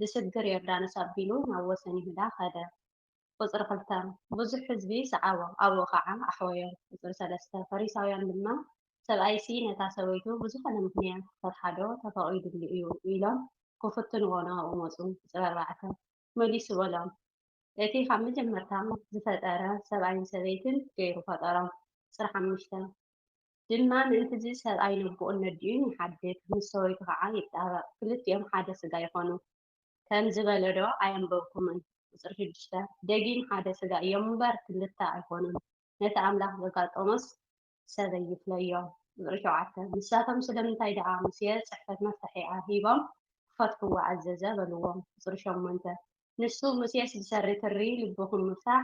ብስግር ዮርዳኖስ ኣቢሉ ናብ ወሰን ይሁዳ ኸደ። ቍጽሪ ኽልተ። ብዙሕ ህዝቢ ሰዓቦ፣ ኣብኡ ኸዓ ኣሕወዮ። ቍጽሪ ሰለስተ። ፈሪሳውያን ድማ፣ ሰብኣይሲ ነታ ሰበይቱ ብዝዀነ ምኽንያት ኽፈትሓዶ ተፈቒዱሉ እዩ? ኢሎም ኪፍትንዎ ናብኡ መጹ። ቍጽሪ ኣርባዕተ። መሊሱ በሎም፣ እቲ ኻብ መጀመርታ ዝፈጠረ፣ ሰብኣይን ሰበይትን ገይሩ ፈጠሮም። ቍጽሪ ሓሙሽተ። ድማ ምእንት'ዚ ሰብኣይ ንኣቡኡን ነዲኡን ይሓድግ፣ ምስ ሰበይቱ ኸኣ ይጣበቕ፣ ክልቲኦም ሓደ ሥጋ ይኾኑ ከም ዝበለዶ ኣየንበብኩምን? ቁጽሪ ሽዱሽተ፣ ደጊም ሓደ ሥጋ እዮም'ምበር ክልተ ኣይኮኑን፣ ነቲ ኣምላኽ ዘጋጠሞስ ሰበይ ይፍለዮ። ቁጽሪ ሸውዓተ፣ ንሳቶም ስለምንታይ ደኣ ሙሴ ጽሕፈት መፍታሒኣ ሂቦም ክፈትሕዎ ኣዘዘ በልዎም። ቁጽሪ ሸሞንተ፣ ንሱ ሙሴስ ብሰሪ ትሪ ልብኹም ምፍታሕ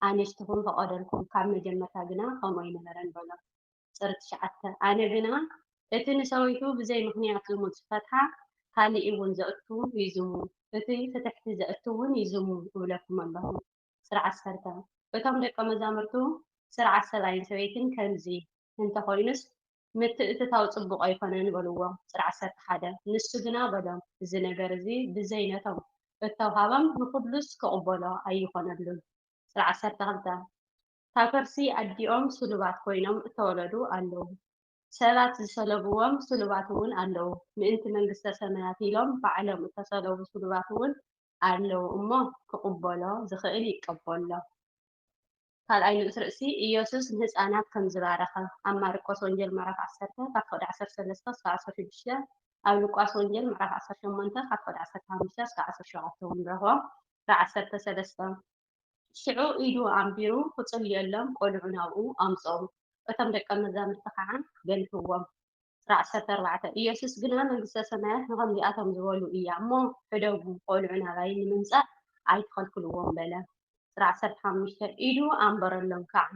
ኣንስትኹም ፈቐደልኩም፣ ካብ መጀመርታ ግና ከምኡ ኣይነበረን በሎ። ጸር ትሽዓተ፣ ኣነ ግና እቲ ንሰበይቱ ብዘይ ምኽንያት ዝሙት ዝፈትሓ ካልእውን ዘእቱ ይዝሙ፣ እቲ ፍትሕቲ ዘእቱውን ይዝሙ እብለኩም ኣለኹ። ጸር ዓሰርተ፣ እቶም ደቀ መዛሙርቱ ጸር ዓሰብኣይን ሰበይትን ከምዚ። እንተ ዀይኑስ፣ ምትእትታው ጽቡቕ ኣይኰነን በልዎ። ቁጽሪ ዓሰርተ ሓደ፣ ንሱ ግና በሎም፣ እዚ ነገር እዚ ብዘይ ነቶም እተውሃበም ንዅሉስ ኪቕበሎ ኣይኰነሉን። ቁጽሪ ዓሰርተ ክልተ፣ እታ ከርሲ ኣዲኦም ስሉባት ኰይኖም እተወለዱ ኣለዉ፣ ሰባት ዝሰለብዎም ስሉባት እውን ኣለዉ፣ ምእንቲ መንግስተ ሰማያት ኢሎም ባዕሎም እተሰለቡ ስሉባት እውን ኣለዉ እሞ ክቕበሎ ዝኽእል ይቀበሎ። ካልኣይ ንኡስ ርእሲ ኢየሱስ ንህጻናት ከም ዝባረኸ ኣብ ማርቆስ ወንጌል ምዕራፍ ዓሰርተ ካብ ፍቕዲ ዓሰርተ ሰለስተ ክሳብ ዓሰርተ ሽዱሽተ ኣብ ሉቃስ ወንጌል ምዕራፍ ዓሰርተ ሸሞንተ ካብ ፍቕዲ ዓሰርተ ሓሙሽተ ክሳብ ዓሰርተ ሸውዓተ እውን ንረኽቦ። ፍቕዲ ዓሰርተ ሰለስተ ሽዑ ኢዱ ኣንቢሩ ኺጽልየሎም ቈልዑ ናብኡ ኣምጽኡ። እቶም ደቀ መዛሙርቲ ኸኣ ገንሕዎም። ቁጽሪ ዓሰርተ ኣርባዕተ፣ ኢየሱስ ግና መንግስተ ሰማያት ንኸምዚኣቶም ዝበሉ እያ እሞ፣ ሕደጉ፣ ቈልዑ ናባይ ንምምጻእ ኣይትኸልክልዎም በለ። ቁጽሪ ዓሰርተ ሓሙሽተ፣ ኢዱ ኣንበረሎም ከኣ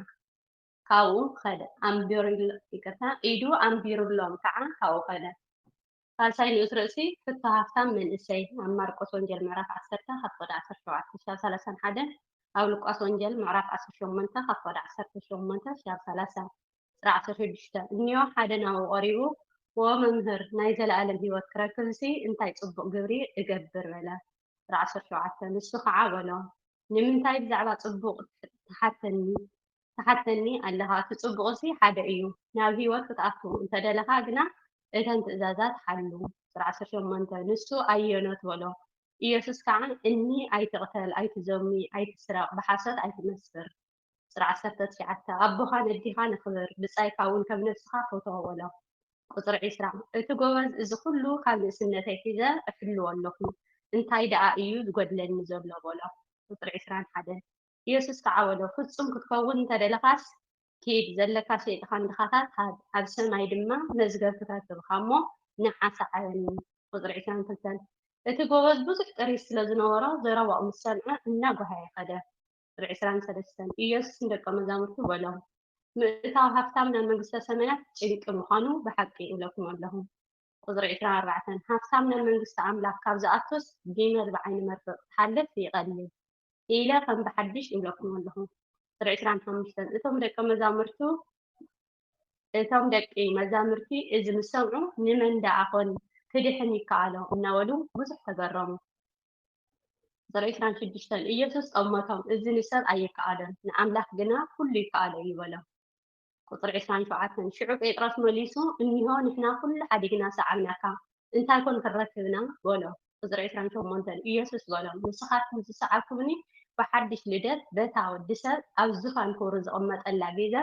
ካብኡ ኸደ። ኣንቢሩሎም ከኣ ካብኡ ኸደ። ሳልሳይ ንኡስ ርእሲ ሕቶ ሃፍታም መንእሰይ ኣብ ማርቆስ ወንጌል ምዕራፍ ዓሰርተ ካብ ቁጥሪ ዓሰርተ ሸውዓተ ክሳብ ሰላሳን ሓደ ኣብ ሉቃስ ወንጌል ምዕራፍ ዓሰርተ ሸሞንተ ካብ ቁጥሪ ዓሰርተ ሸሞንተ ክሳብ ሰላሳ ቁጽሪ ዓሰርተ ሽዱሽተ እንዮ ሓደ ናብኡ ቀሪቡ ዎ መምህር ናይ ዘለኣለም ህይወት ክረክብሲ እንታይ ጽቡቕ ግብሪ እገብር በለ ቁጽሪ ዓሰርተ ሸውዓተ ንሱ ኸዓ በሎ ንምንታይ ብዛዕባ ጽቡቕ ትሓተኒ ኣለኻ? እቲ ጽቡቕሲ ሓደ እዩ። ናብ ህይወት ክትኣቱ እንተ ደለኻ ግና፣ እተን ትእዛዛት ሓሉ። ቁጽሪ ዓሰርተ ሸሞንተ፣ ንሱ ኣየኖት? በሎ። ኢየሱስ ከኣ፣ እኒ፣ ኣይትቕተል፣ ኣይትዘሙ፣ ኣይትስረቕ፣ ብሓሶት ኣይትመስክር። ቁጽሪ ዓሰርተ ትሽዓተ፣ ኣቦኻን ኣዲኻን ኣኽብር፣ ብጻይካ እውን ከም ነፍስኻ ፈቶ በሎ። ቁጽሪ ዕስራ፣ እቲ ጎበዝ እዚ ኹሉ ካብ ንእስነተይ ሒዘ እሕልዎ ኣሎኹ፣ እንታይ ደኣ እዩ ዚጐድለኒ ዘሎ? በሎ። ቁጽሪ ዕስራን ሓደን፣ የሱስ ከኣ በሎ፣ ፍጹም ክትከውን እንተ ደለኻስ፣ ኪድ፣ ዘለካ ሸይጥካ ንድኻታት ሃብ፣ ኣብ ሰማይ ድማ መዝገብ ክተርክብካ እሞ፣ ንዓ ሰዓበኒ። ቁጽሪ ዕስራን ክልተን፣ እቲ ጎበዝ ብዙሕ ጥሪት ስለ ዝነበሮ፣ ዘረባኡ ምስ ሰምዐ እናጐሃየ ከደ። ቁጽሪ ዕስራን ሰለስተን። ኢየሱስ ንደቀ መዛሙርቱ በሎም፣ ምእታው ሃብታም ናብ መንግስተ ሰማያት ጭንቂ ምዃኑ ብሓቂ እብለኩም ኣለኹ። ቁጽሪ ዕስራን ኣርባዕተን። ሃብታም ናብ መንግስቲ ኣምላኽ ካብ ዝኣቱስ ጊመል ብዓይኒ መርፍእ ክትሓልፍ ይቐልል ኢለ ከም ብሓድሽ እብለኩም ኣለኹ። ቁጽሪ ዕስራን ሓሙሽተን። እቶም ደቀ መዛሙርቱ እቶም ደቂ መዛሙርቲ እዚ ምስ ሰምዑ ንመን ደኣ ኾን ክድሕን ይከኣሎ እናበሉ ብዙሕ ተገረሙ። ዘርኢ ዕስራን ሽዱሽተን ኢየሱስ ጠመቶም፣ እዚ ንሰብ ኣይከኣሎን፣ ንኣምላኽ ግና ኵሉ ይከኣሎ እዩ በሎም። ቁጽሪ ዕስራን ሸውዓተን ሽዑ ጴጥሮስ መሊሱ፣ እኒሆ፣ ንሕና ኵሉ ሓዲግና ሰዓብናካ፣ እንታይ ኮን ክንረክብ ኢና? በሎ። ቁጽሪ ዕስራን ሸሞንተን ኢየሱስ በሎም፣ ንስኻትኩም ዝሰዓብኩምኒ ብሓድሽ ልደት፣ በታ ወዲ ሰብ ኣብ ዙፋን ክብሩ ዝቕመጠላ ግዘ፣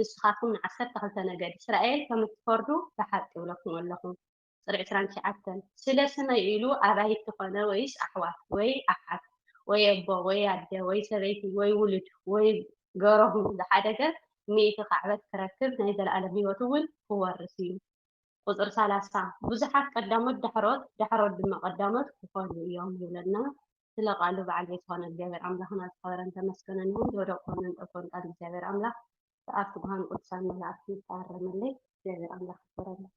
ንስኻትኩም ንዓሰርተ ክልተ ነገድ እስራኤል ከም እትፈርዱ ብሓቂ እብለኩም ኣለኹ። ፅርዕ ትራንኪ ዓተን ስለ ስመይ ኢሉ ኣባይቲ ኮነ ወይስ ኣሕዋት ወይ ኣሓት ወይ ኣቦ ወይ ኣደ ወይ ሰበይቲ ወይ ውሉድ ወይ ገሮሁ ዝሓደገ ሚእቲ ካዕበት ክረክብ ናይ ዘለኣለም ህይወት እውን ክወርስ እዩ። ቁፅሪ ሰላሳ ብዙሓት ቀዳሞት ዳሕሮት ዳሕሮት ድማ ቀዳሞት ክኾኑ እዮም ይብለና ስለ ቃሉ በዓል ቤት ዝኾነ እግዚኣብሔር ኣምላኽና ዝኸበረን ተመስገነን ይኹን ዝወደቅኩን ዘንጠልኩን ቃል እግዚኣብሔር ኣምላኽ ብኣብ ትጉሃን ቅዱሳን መላእክቲ ይታረመለይ እግዚኣብሔር ኣምላኽ ይክበረለይ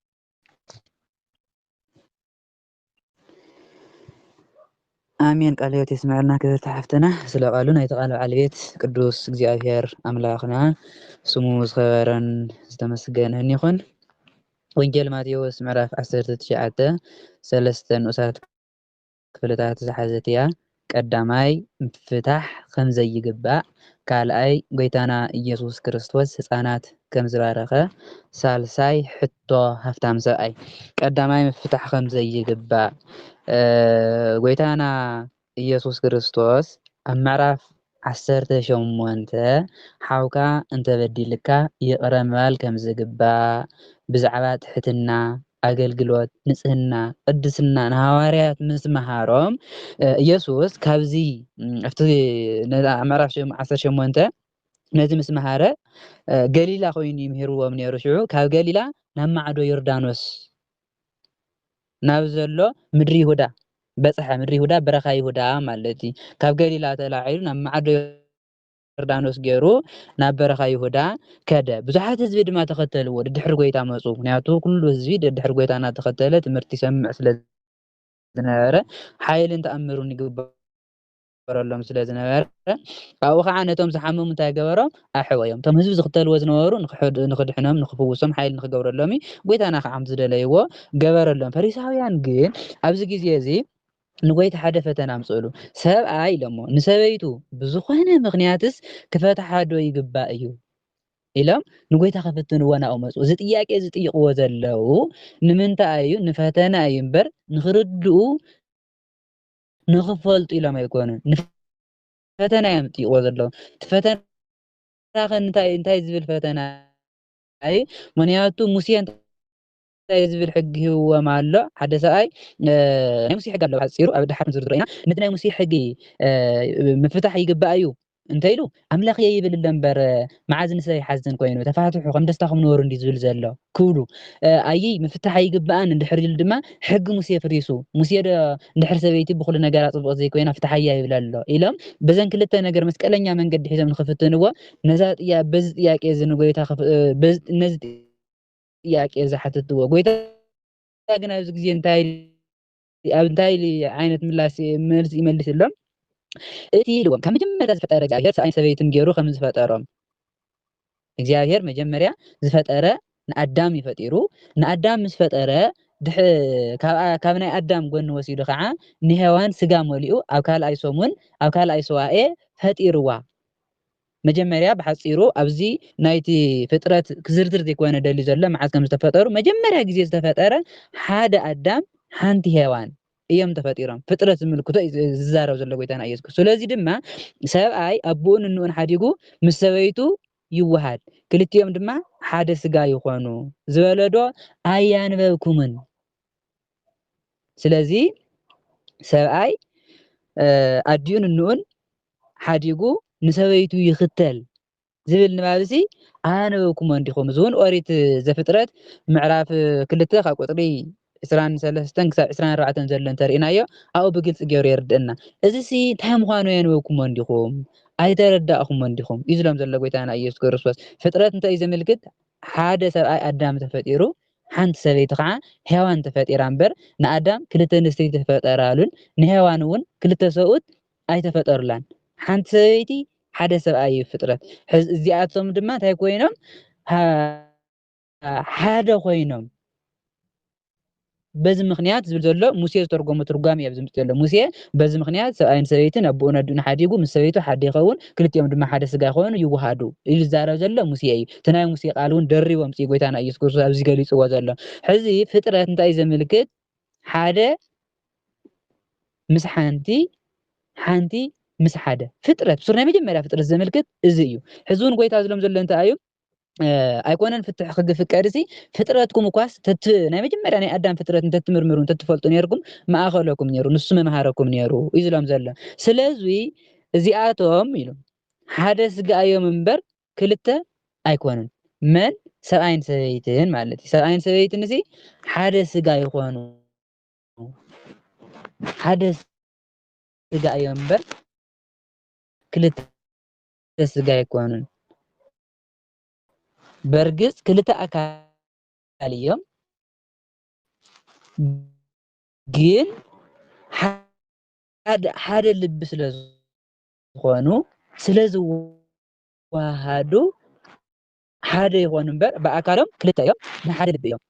ኣሜን ቃለ ሕይወት የስምዐልና ክብርቲ ሓፍትና ስለ ቃሉ ናይቲ ቃል በዓል ቤት ቅዱስ እግዚኣብሔር ኣምላኽና ስሙ ዝኸበረን ዝተመስገነን ይኹን። ወንጌል ማቴዎስ ምዕራፍ 19 ሰለስተ ንኡሳት ክፍልታት ዝሓዘት'ያ፣ ቀዳማይ ምፍታሕ ከም ዘይግባእ፣ ካልኣይ ጎይታና ኢየሱስ ክርስቶስ ህጻናት ከም ዝባረኸ፣ ሳልሳይ ሕቶ ሃፍታም ሰብኣይ። ቀዳማይ ምፍታሕ ከም ዘይግባእ፣ ጎይታና ኢየሱስ ክርስቶስ ኣብ ምዕራፍ ዓሰርተ ሸሞንተ፣ ሓውካ እንተበዲልካ ይቕረ ምባል ከም ዝግባእ፣ ብዛዕባ ትሕትና፣ ኣገልግሎት፣ ንጽህና፣ ቅድስና ንሃዋርያት ምስ መሃሮም፣ ኢየሱስ ካብዚ ኣብቲ ኣብ ምዕራፍ ዓሰርተ ሸሞንተ ነዚ ምስ መሃረ ገሊላ ኮይኑ እዩ ምሂርዎም ነይሩ። ሽዑ ካብ ገሊላ ናብ ማዕዶ ዮርዳኖስ ናብ ዘሎ ምድሪ ይሁዳ በጽሐ፣ ምድሪ ይሁዳ በረኻ ይሁዳ ማለት እዩ። ካብ ገሊላ ተላዒሉ ናብ ማዕዶ ዮርዳኖስ ገይሩ ናብ በረኻ ይሁዳ ከደ፣ ብዙሓት ህዝቢ ድማ ተኸተልዎ፣ ድድሕሪ ጎይታ መጹ። ምክንያቱ ኩሉ ህዝቢ ድድሕሪ ጎይታ እናተኸተለ ትምህርቲ ይሰምዕ ስለ ዝነበረ ሓይልን ተኣምርን ይግበረሉ ይግበረሎም ስለ ዝነበረ ካብኡ ከዓ ነቶም ዝሓመሙ እንታይ ገበሮም ኣሕወዮም እቶም ህዝቢ ዝኽተልዎ ዝነበሩ ንክድሕኖም ንክፍውሶም ሓይሊ ንክገብረሎም እዩ ጎይታና ከዓ ዝደለይዎ ገበረሎም ፈሪሳውያን ግን ኣብዚ ግዜ እዚ ንጎይታ ሓደ ፈተና ኣምፅእሉ ሰብኣይ ኢሎሞ ንሰበይቱ ብዝኾነ ምክንያትስ ክፈትሓ ዶ ይግባእ እዩ ኢሎም ንጎይታ ከፍትንዎ ናብኡ መፁ እዚ ጥያቄ እዚ ጥይቕዎ ዘለው ንምንታይ እዩ ንፈተና እዩ እምበር ንክርድኡ ንኽፈልጡ ኢሎም ኣይኮኑን ንፈተና እዮም ጥይቕዎ ዘለዉ እቲ ፈተና ኸ እንታይ እንታይ ዝብል ፈተና እዩ ምክንያቱ ሙሴ እንታይ ዝብል ሕጊ ሂብዎም ኣሎ ሓደ ሰብኣይ ናይ ሙሴ ሕጊ ኣለዎ ሓፂሩ ኣብ ድሓር ዝርዝሮ ኢና ነቲ ናይ ሙሴ ሕጊ ምፍታሕ ይግባእ እዩ እንተ ኢሉ ኣምላኽየ ይብል ኣሎ እምበር መዓዝ ንሰብ ይሓዝን ኮይኑ ተፋትሑ ከም ደስታኹም ንበሩ እንዲ ዝብል ዘሎ ክብሉ ኣይይ ምፍታሕ ኣይግብኣን እንድሕር ኢሉ ድማ ሕጊ ሙሴ ፍሪሱ ሙሴ ዶ እንድሕር ሰበይቲ ብኹሉ ነገራ ጽቡቕ ዘይኮይና ፍትሓያ ይብል ኣሎ ኢሎም በዘን ክልተ ነገር መስቀለኛ መንገዲ ሒዞም ንክፍትንዎ ነዛ ጥያ በዚ ጥያቄ እዚ ንጎይታ ነዚ ጥያቄ እዚ ሓትትዎ ጎይታ ግን ኣብዚ ግዜ እንታይ ኣብ እንታይ ዓይነት ምላስ መልሲ ይመልስሎም? እቲ ኢልዎም ካብ መጀመርያ ዝፈጠረ እግዚኣብሔር ሰብኣይን ሰበይትን ገይሩ ከም ዝፈጠሮም እግዚኣብሔር መጀመርያ ዝፈጠረ ንኣዳም እዩ ፈጢሩ ንኣዳም ምስ ፈጠረ ካብ ናይ ኣዳም ጎኒ ወሲዱ ከዓ ንሄዋን ስጋ መሊኡ ኣብ ካልኣይ ሰሙን ኣብ ካልኣይ ሰዋኤ ፈጢርዋ መጀመርያ ብሓጺሩ ኣብዚ ናይቲ ፍጥረት ክዝርዝር ዘይኮነ ደልዩ ዘሎ መዓዝ ከም ዝተፈጠሩ መጀመርያ ግዜ ዝተፈጠረ ሓደ ኣዳም ሓንቲ ሄዋን እዮም ተፈጢሮም ፍጥረት ዝምልክቶ እዩ ዝዛረብ ዘሎ ጎይታና ኢየሱስ ክርስቶስ ስለዚ ድማ ሰብኣይ ኣቡኡን እንኡን ሓዲጉ ምስ ሰበይቱ ይወሃድ ክልቲኦም ድማ ሓደ ስጋ ይኾኑ ዝበለዶ ኣያንበብኩምን ስለዚ ሰብኣይ ኣዲኡን እንኡን ሓዲጉ ንሰበይቱ ይኽተል ዝብል ንባብ እዚ ኣነበብኩሞ እንዲኹም እዚ እውን ኦሪት ዘፍጥረት ምዕራፍ ክልተ ካብ ቁፅሪ ዕስራን ሰለስተን ክሳብ ዕስራን ኣርባዕተን ዘሎ እንተርእናዮ ኣብኡ ብግልፂ ገይሩ የርድእና እዚ ሲ እንታይ ምዃኑ ኣነበብኩሞ እንዲኹም ኣይተረዳእኹሞ እንዲኹም እዩ ዝሎም ዘሎ ጎይታና ኢየሱስ ክርስቶስ ፍጥረት እንታይ እዩ ዘመልክት ሓደ ሰብኣይ ኣዳም ተፈጢሩ ሓንቲ ሰበይቲ ኸዓ ሔዋን ተፈጢራ እምበር ንኣዳም ክልተ ኣንስቲ ኣይተፈጠራሉን ንሔዋን እውን ክልተ ሰብኡት ኣይተፈጠሩላን ሓንቲ ሰበይቲ ሓደ ሰብኣይ እዩ ፍጥረት ሕዝ እዚኣቶም ድማ እንታይ ኮይኖም ሓደ ኮይኖም በዚ ምኽንያት ዝብል ዘሎ ሙሴ ዝተርጎሞ ትርጓሜ እዩ ኣብዚ ምጽእ ዘሎ ሙሴ በዚ ምኽንያት ሰብኣይን ሰበይትን ኣቦኡን ኣዲኡን ሓዲጉ ምስ ሰበይቱ ሓደ ይኸውን ክልቲኦም ድማ ሓደ ስጋ ይኾኑ ይወሃዱ ኢሉ ዝዛረብ ዘሎ ሙሴ እዩ እቲ ናይ ሙሴ ቃል እውን ደሪቡ ኣምጽኡ ጎይታና ኢየሱስ ክርስቶስ ኣብዚ ገሊጽዎ ዘሎ ሕዚ ፍጥረት እንታይ እዩ ዘመልክት ሓደ ምስ ሓንቲ ሓንቲ ምስ ሓደ ፍጥረት ብሱር ናይ መጀመርያ ፍጥረት ዘመልክት እዚ እዩ ሕዚ እውን ጎይታ ዝሎም ዘሎ እንታይ እዩ ኣይኮነን ፍትሕ ክግፍቀድ ሲ ፍጥረትኩም እኳስ ናይ መጀመርያ ናይ ኣዳም ፍጥረት እንተትምርምሩ እንተትፈልጡ ነርኩም ማእኸለኩም ነሩ ንሱ መምሃረኩም ነሩ እዩ ዝሎም ዘሎ ስለዚ እዚኣቶም ኢሉ ሓደ ስጋ እዮም እምበር ክልተ ኣይኮኑን መን ሰብኣይን ሰበይትን ማለት እዩ ሰብኣይን ሰበይትን እዚ ሓደ ስጋ ይኾኑ ሓደ ስጋ እዮም እምበር ክልተ ሓደ ስጋ ኣይኮኑን። በርግጽ ክልተ ኣካል እዮም፣ ግን ሓደ ልቢ ስለ ዝኾኑ ስለ ዝወሃሃዱ ሓደ ይኾኑ እምበር ብኣካሎም ክልተ እዮም ናይ ሓደ ልቢ እዮም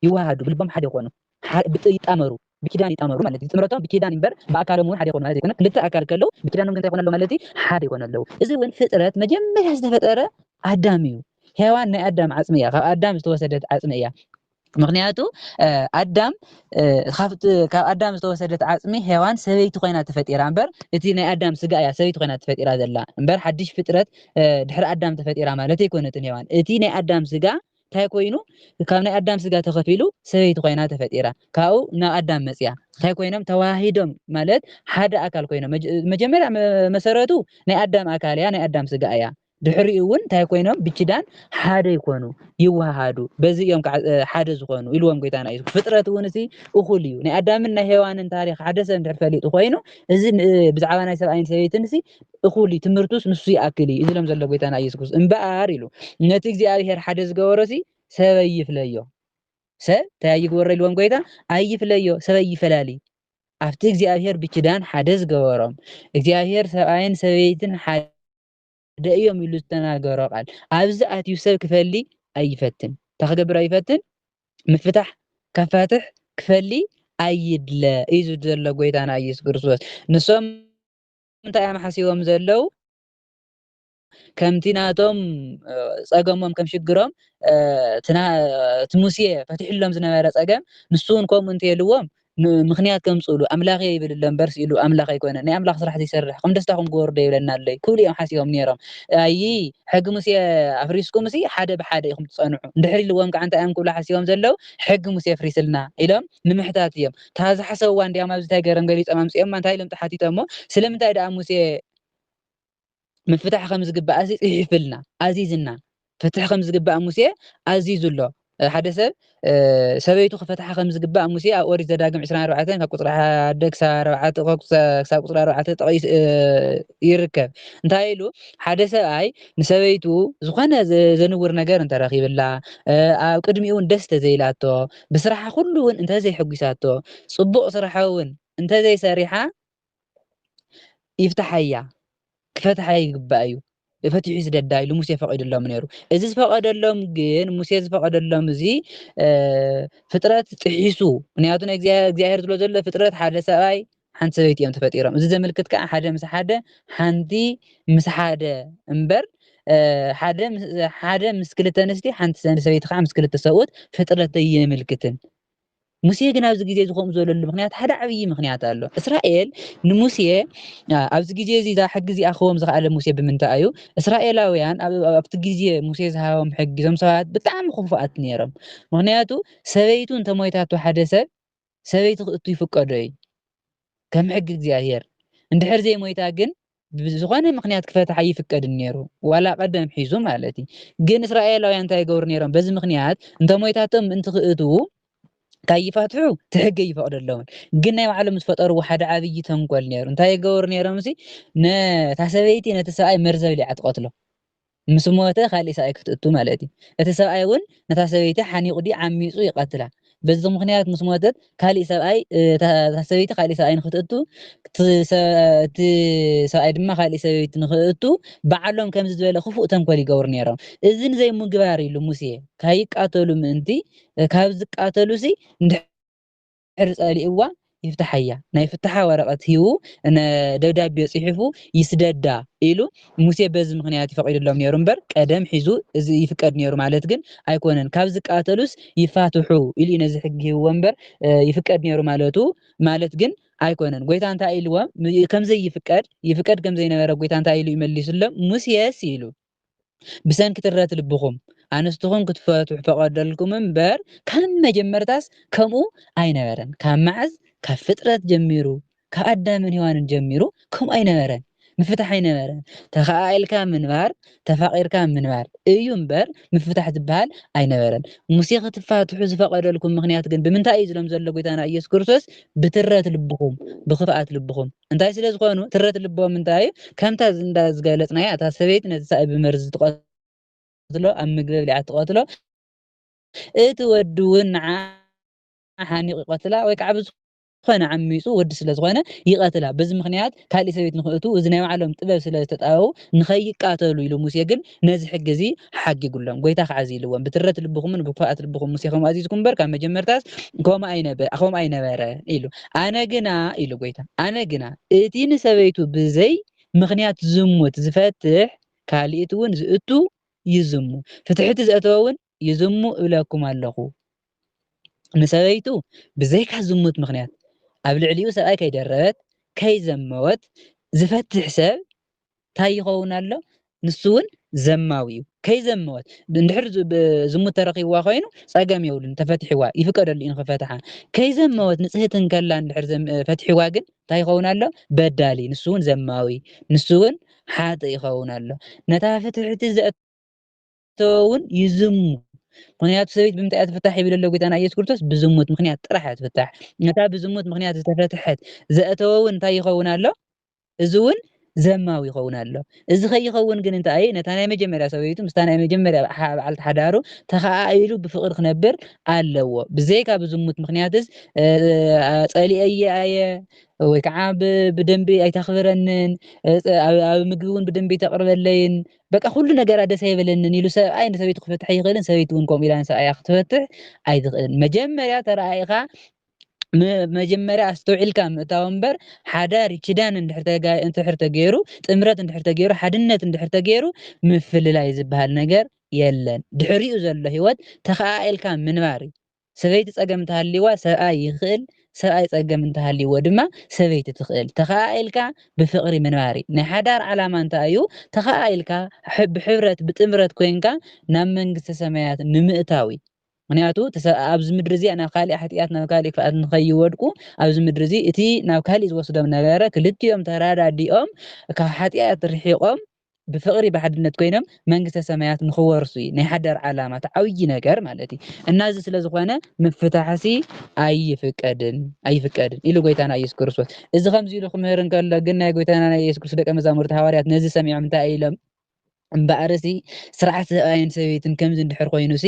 ይወሃሃዱ ብልቦም ሓደ ይኾኑ ይጣመሩ ብኪዳን ይጣመሩ ማለት እዩ ጥምረቶም ብኪዳን እምበር ብኣካሎም እውን ሓደ ይኾኑ ማለት ዘይኮነ ክልተ ኣካል ከለው ብኪዳኖም እንታይ ይኾኑ ኣለው ማለት እዩ ሓደ ይኾኑ ኣለው እዚ እውን ፍጥረት መጀመርያ ዝተፈጠረ ኣዳም እዩ ሔዋን ናይ ኣዳም ዓፅሚ እያ ካብ ኣዳም ዝተወሰደት ዓፅሚ እያ ምክንያቱ ኣዳም ካብ ኣዳም ዝተወሰደት ዓፅሚ ሄዋን ሰበይቲ ኮይና ተፈጢራ እምበር እቲ ናይ ኣዳም ስጋ እያ ሰበይቲ ኮይና ተፈጢራ ዘላ እምበር ሓድሽ ፍጥረት ድሕሪ ኣዳም ተፈጢራ ማለት ኣይኮነትን ሄዋን እቲ ናይ ኣዳም ስጋ እንታይ ኮይኑ ካብ ናይ ኣዳም ስጋ ተኸፊሉ ሰበይቲ ኮይና ተፈጢራ ካብኡ ናብ ኣዳም መፅያ እንታይ ኮይኖም ተዋሂዶም ማለት ሓደ ኣካል ኮይኖም መጀመርያ መሰረቱ ናይ ኣዳም ኣካል እያ ናይ ኣዳም ስጋ እያ ድሕሪኡ እውን እንታይ ኮይኖም ብኪዳን ሓደ ይኮኑ ይወሃሃዱ በዚ እዮም ከዓ ሓደ ዝኾኑ ኢልዎም ጎይታና እዩ ፍጥረት እውን እዚ እኹል እዩ ናይ ኣዳምን ናይ ሄዋንን ታሪክ ሓደ ሰብ እንድሕር ፈሊጡ ኮይኑ እዚ ብዛዕባ ናይ ሰብኣይን ሰበይትን እዚ እኹል እዩ ትምህርቱስ ንሱ ይኣክል እዩ እዚሎም ዘሎ ጎይታና ኢየሱስ ክርስቶስ እምበኣር ኢሉ ነቲ እግዚኣብሔር ሓደ ዝገበሮ እዚ ሰብ ኣይፍለዮ ሰብ እንታይ ኣይግበሮ ኢልዎም ጎይታ ኣይፍለዮ ሰብ ኣይፈላሊ ኣብቲ እግዚኣብሔር ብኪዳን ሓደ ዝገበሮም እግዚኣብሔር ሰብኣይን ሰበይትን ሓደ ሓደ እዮም ኢሉ ዝተናገሮ ቃል ኣብዚ ኣትዩ ሰብ ክፈሊ ኣይፈትን እንታይ ክገብር ኣይፈትን ምፍታሕ ከፋትሕ ክፈሊ ኣይድለ እዩ ዘሎ ጎይታና ኢየሱስ ክርስቶስ ንሶም እንታይ እዮም ሓሲቦም ዘለው ከምቲ ናቶም ጸገሞም ከም ሽግሮም እቲ ሙሴ ፈትሕሎም ዝነበረ ጸገም ንሱ እውን ከምኡ እንተልዎም ምኽንያት ከምጽእሉ ኣምላኽ'የ ይብል ኣሎ እምበር ስኢሉ ኣምላኽ ኣይኮነን ናይ ኣምላኽ ስራሕ ዘይሰርሕ ከም ደስታኹም ግበሩ ዶ ይብለና ኣሎ'ዩ ክብሉ እዮም ሓሲቦም ኔሮም ኣይይ ሕጊ ሙሴ ኣፍሪስኩም'ሲ ሓደ ብሓደ ኢኹም ትጸንሑ እንድሕር ኢልዎም ከኣ እንታይ እዮም ክብሉ ሓሲቦም ዘለዉ ሕጊ ሙሴ ኣፍሪስልና ኢሎም ንምሕታት እዮም እታ ዝሓሰብዋ እንድያም ኣብዚ ታይ ገረም ገሊጾም ኣምጺኦማ እንታይ ኢሎም ተሓቲቶሞ ስለምንታይ ደኣ ሙሴ ምፍታሕ ከም ዝግባእ ሲ ጽሒፍልና ኣዚዝና ፍትሕ ከም ዝግባእ ሙሴ ኣዚዙ ኣሎ ሓደ ሰብ ሰበይቱ ክፈትሓ ከም ዝግባእ ሙሴ ኣብ ኦሪት ዘዳግም 24 ካብ ቁፅሪ ሓደ ክሳብ ክሳብ ቁፅሪ ኣርባዕተ ጠቂሱ ይርከብ እንታይ ኢሉ ሓደ ሰብኣይ ንሰበይቱ ዝኾነ ዘንውር ነገር እንተረኺብላ ኣብ ቅድሚኡ እውን ደስ ተዘይላቶ ብስራሓ ኩሉ እውን እንተዘይሕጒሳቶ ፅቡቕ ስራሓ እውን እንተዘይሰሪሓ ይፍታሓያ ክፈትሓ ይግባእ እዩ ፈትሑ ይስደዳ ኢሉ ሙሴ ፈቂድሎም ነይሩ እዚ ዝፈቀደሎም ግን ሙሴ ዝፈቀደሎም እዚ ፍጥረት ጥሒሱ ምክንያቱ ናይ እግዚኣብሔር ዝሎ ዘሎ ፍጥረት ሓደ ሰብኣይ ሓንቲ ሰበይቲ እዮም ተፈጢሮም እዚ ዘመልክት ከዓ ሓደ ምስ ሓደ ሓንቲ ምስ ሓደ እምበር ሓደ ምስ ክልተ ኣንስቲ ሓንቲ ሰበይቲ ከዓ ምስ ክልተ ሰብኡት ፍጥረት የምልክትን ሙሴ ግን ኣብዚ ግዜ እዚ ከምኡ ዝበለሉ ምኽንያት ሓደ ዓብዪ ምኽንያት ኣሎ። እስራኤል ንሙሴ ኣብዚ ግዜ እዚ እዛ ሕጊ እዚኣ ክህቦም ዝኸኣለ ሙሴ ብምንታይ እዩ? እስራኤላውያን ኣብ ኣብቲ ግዜ ሙሴ ዝሃቦም ሕጊ እዞም ሰባት ብጣዕሚ ክፉኣት ነይሮም። ምኽንያቱ ሰበይቱ እንተ ሞይታቶ ሓደ ሰብ ሰበይቲ ክእቱ ይፍቀዶ እዩ ከም ሕጊ እግዚኣብሄር። እንድሕር ዘይሞይታ ግን ብዝኾነ ምኽንያት ክፈትሕ ኣይፍቀድን ነይሩ ዋላ ቀደም ሒዙ ማለት እዩ ግን እስራኤላውያን እንታይ ይገብሩ ነይሮም በዚ ምኽንያት እንተ ሞይታቶም ምእንቲ ክእትዉ ካይፋትሑ ትሕገ ይፈቅደለውን ግን ናይ ባዕሎም ዝፈጠርዎ ሓደ ዓብዪ ተንኮል ነይሩ እንታይ ይገብሩ ነይሮም ሲ ነታ ሰበይቲ ነቲ ሰብኣይ መርዘ ብሊዓ ትቐትሎ ምስ ሞተ ካልእ ሰብኣይ ክትእቱ ማለት እዩ። እቲ ሰብኣይ እውን ነታ ሰበይቲ ሓኒቑ ድዩ ዓሚፁ ይቐትላ። በዚ ምኽንያት ምስ ሞተት ካልእ ሰብኣይ እታ ሰበይቲ ካልእ ሰብኣይ ንኽትእቱ እቲ ሰብኣይ ድማ ካልእ ሰበይቲ ንኽእቱ ባዕሎም ከምዚ ዝበለ ክፉእ ተንኮል ይገብሩ ነይሮም። እዚ ንዘይምግባር ኢሉ ሙሴ ካይቃተሉ ምእንቲ ካብ ዝቃተሉሲ ድሕሪ ጸሊእዋ ይፍትሓያ ናይ ፍታሓ ወረቐት ሂቡ እነ ደብዳቤ ጽሒፉ ይስደዳ ኢሉ ሙሴ በዚ ምኽንያት እዩ ፈቒድሎም ኔሩ እምበር ቀደም ሒዙ እዚ ይፍቀድ ኔሩ ማለት ግን ኣይኮነን ካብ ዝቃተሉስ ይፋትሑ ኢሉ እዩ ነዚ ሕጊ ሂብዎ እምበር ይፍቀድ ኔሩ ማለቱ ማለት ግን ኣይኮነን ጎይታ እንታይ ኢልዎም ከምዘይፍቀድ ይፍቀድ ከምዘይነበረ ጎይታ እንታይ ኢሉ እዩ መሊሱሎም ሙሴስ ኢሉ ብሰንኪ ትረት ልብኹም ኣንስትኹም ክትፈትሑ ፈቐደልኩም እምበር ካብ መጀመርታስ ከምኡ ኣይነበረን። ካብ መዓዝ? ካብ ፍጥረት ጀሚሩ፣ ካብ ኣዳምን ሄዋንን ጀሚሩ ከምኡ ኣይነበረን። ምፍታሕ ኣይነበረን። ተኸኣኢልካ ምንባር፣ ተፋቒርካ ምንባር እዩ እምበር ምፍታሕ ዝበሃል ኣይነበረን። ሙሴ ክትፋትሑ ዝፈቐደልኩም ምኽንያት ግን ብምንታይ እዩ ዝሎም ዘሎ ጎይታና ኢየሱስ ክርስቶስ ብትረት ልብኹም፣ ብኽፍኣት ልብኹም። እንታይ ስለ ዝኾኑ ትረት ልቦም እንታይ እዩ? ከምታ እንዳ ዝገለጽናያ እታ ሰበይቲ ነቲ ሳእኢ ብመርዚ ትቐትሎ፣ ኣብ ምግቢ ኣብሊዓ ትቐትሎ፣ እቲ ወዲ እውን ንዓኣ ሓኒቑ ይቐትላ ወይ ከዓ ብዝኾነ ዝኾነ ዓሚፁ ወዲ ስለ ዝኾነ ይቐትላ በዚ ምኽንያት ካሊእ ሰበይት ንኽእቱ እዚ ናይ ባዕሎም ጥበብ ስለ ዝተጣበቡ ንኸይቃተሉ ኢሉ ሙሴ ግን ነዚ ሕጊ እዚ ሓጊጉሎም። ጐይታ ኸኣ እዚ ኢልዎም፣ ብትረት ልብኹምን ብክፍኣት ልብኹም ሙሴ ኸምኡ ኣዚዝኩም እምበር፣ ካብ መጀመርታስ ከምኡ ኣይነበረን ኢሉ። ኣነ ግና ኢሉ ጐይታ፣ ኣነ ግና እቲ ንሰበይቱ ብዘይ ምኽንያት ዝሙት ዚፈትሕ፣ ካልእቲውን ዚእቱ ይዝሙ፣ ፍትሕቲ ዘእተወውን ይዝሙ እብለኩም ኣለኹ። ንሰበይቱ ብዘይካ ዝሙት ምኽንያት ኣብ ልዕሊኡ ሰብኣይ ከይደረበት ከይዘመወት ዝፈትሕ ሰብ እንታይ ይኸውን ኣሎ? ንሱ እውን ዘማዊ እዩ ከይዘመወት እንድሕር ዝሙት ተረኪብዋ ኮይኑ ፀገም የብሉን ተፈትሕዋ ይፍቀደሉ እዩ ንክፈትሓ ከይዘመወት ንፅህቲ እንከላ እንድሕር ፈትሕዋ ግን እንታይ ይኸውን ኣሎ በዳሊ ንሱ እውን ዘማዊ ንሱ እውን ሓጥ ይኸውን ኣሎ ነታ ፍትሕቲ ዝተወ እውን ይዝሙ ምክንያቱ ሰበይት ብምንታይ እያ ትፍታሕ ይብል ኣሎ ጎይታና ኢየሱስ ክርስቶስ ብዝሙት ምክንያት ጥራሕ እያ ትፍታሕ ነታ ብዝሙት ምክንያት ዝተፈትሐት ዘእተወ እውን እንታይ ይኸውን ኣሎ እዚ እውን ዘማዊ ይኸውን ኣሎ እዚ ከይኸውን ግን እንታይ እዩ ነታ ናይ መጀመርያ ሰበይቱ ምስታ ናይ መጀመርያ በዓልቲ ሓዳሩ ተኸኣኢሉ ብፍቅሪ ክነብር ኣለዎ ብዘይካ ብዝሙት ምክንያትስ ጸሊአየ ኣየ ወይ ከዓ ብደንቢ ኣይተኽብረንን ኣብ ምግቢ እውን ብደንቢ ኣይተቕርበለይን በቃ ኩሉ ነገራ ደስ ኣይበለንን ኢሉ ሰብኣይ ንሰበይቱ ክፈትሕ ኣይኽእልን ሰበይቲ ውን ከምኡ ኢላ ንሰብኣያ ክትፈትሕ ኣይትኽእልን መጀመርያ ተረኣኢኻ መጀመርያ ኣስተውዒልካ ምእታው እምበር ሓዳር ኪዳን እንድሕር ተገይሩ ጥምረት እንድሕር ተገይሩ ሓድነት እንድሕር ተገይሩ ምፍልላይ ዝበሃል ነገር የለን። ድሕሪኡ ዘሎ ህይወት ተኸኣኢልካ ምንባር እዩ። ሰበይቲ ጸገም እንተሃልይዋ ሰብኣይ ይኽእል ሰብኣይ ጸገም እንተሃልይዎ ድማ ሰበይቲ ትኽእል ተኸኣኢልካ ብፍቕሪ ምንባር'ዩ ናይ ሓዳር ዓላማ እንታይ'ዩ ተኸኣኢልካ ብሕብረት ብጥምረት ኮይንካ ናብ መንግስተ ሰማያት ንምእታው'ዩ ምኽንያቱ እቲ ሰብኣ ኣብዚ ምድሪ እዚኣ ናብ ካሊእ ሓጥያት ናብ ካሊእ ክፍኣት ንኸይወድቁ ኣብዚ ምድሪ እዚ እቲ ናብ ካሊእ ዝወስዶም ነበረ ክልቲኦም ተረዳዲኦም ካብ ሓጥያት ርሒቖም ብፍቅሪ ብሓድነት ኮይኖም መንግስተ ሰማያት ንክወርሱ እዩ ናይ ሓዳር ዓላማ እቲ ዓብዪ ነገር ማለት እዩ እና እዚ ስለ ዝኾነ ምፍታሕሲ ኣይፍቀድን ኣይፍቀድን ኢሉ ጎይታና ኢየሱስ ክርስቶስ እዚ ከምዚ ኢሉ ክምህር እንከሎ ግን ናይ ጎይታና ናይ ኢየሱስ ክርስቶስ ደቀ መዛሙርቲ ሃዋርያት ነዚ ሰሚዖም እንታይ ኢሎም እምበኣርሲ ስርዓት ሰብኣይን ሰበይትን ከምዚ እንድሕር ኮይኑሲ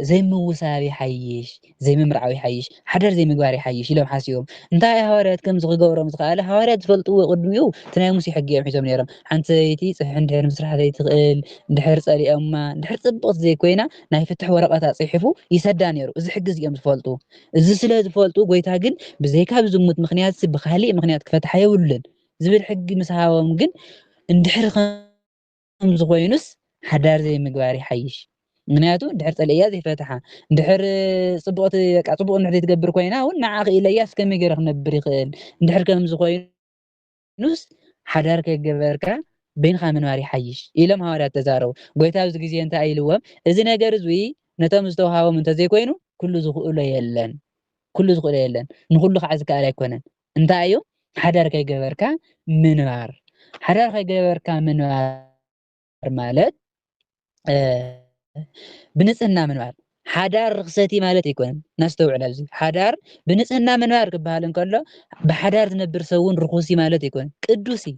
ዘይምውሳብ ይሓይሽ፣ ዘይምምርዓው ይሓይሽ፣ ሓዳር ዘይምግባር ይሓይሽ ኢሎም ሓሲቦም እንታይ እያ ሃዋርያት ከምዚ ክገብሮም ዝኸኣለ ሃዋርያት ዝፈልጥዎ ቅድሚኡ እቲ ናይ ሙሴ ሕጊ እዮም ሒዞም ነይሮም ሓንቲ ሰበይቲ ጽሒሕ እንድሕር ምስራሕ ዘይትኽእል እንድሕር ጸሊኦማ እንድሕር ጽብቕቲ ዘይኮይና ናይ ፍትሕ ወረቐታ ጽሒፉ ይሰዳ ነይሩ እዚ ሕጊ እዚ እዮም ዝፈልጡ እዚ ስለ ዝፈልጡ ጎይታ ግን ብዘይካ ብዝሙት ምክንያት ብካሊእ ምክንያት ክፈትሓ የብሉን ዝብል ሕጊ ምስ ሃቦም ግን እንድሕር ከምዚ ኮይኑስ ሓዳር ዘይምግባር ይሓይሽ ምክንያቱ ድሕር ፀለያ ዘይፈትሓ ድሕር ፅቡቅ በቃ ፅቡቅ እንድሕር ዘይትገብር ኮይና እውን ንዓ ክኢለያ እስከ መገረ ክነብር ይኽእል እንድሕር ከምዚ ኮይኑስ ሓዳር ከገበርካ በይንካ ምንባር ይሓይሽ ኢሎም ሃዋርያት ተዛረቡ ጎይታ ኣብዚ ግዜ እንታይ ኢልዎም እዚ ነገር እዚ ነቶም ዝተውሃቦም እንተዘይኮይኑ ኩሉ ዝኽእሎ የለን ኩሉ ዝኽእሎ የለን ንኩሉ ከዓ ዝከኣል ኣይኮነን እንታይ እዩ ሓዳር ከይገበርካ ምንባር? ሓዳር ከይገበርካ ምንባር ማለት ብንፅህና ምንባር ሓዳር ርክሰቲ ማለት ኣይኮነን ናስተውዕል ኣብዚ ሓዳር ብንፅህና ምንባር ክበሃል እንከሎ ብሓዳር ዝነብር ሰውን ርኩሲ ማለት ኣይኮነን ቅዱስ እዩ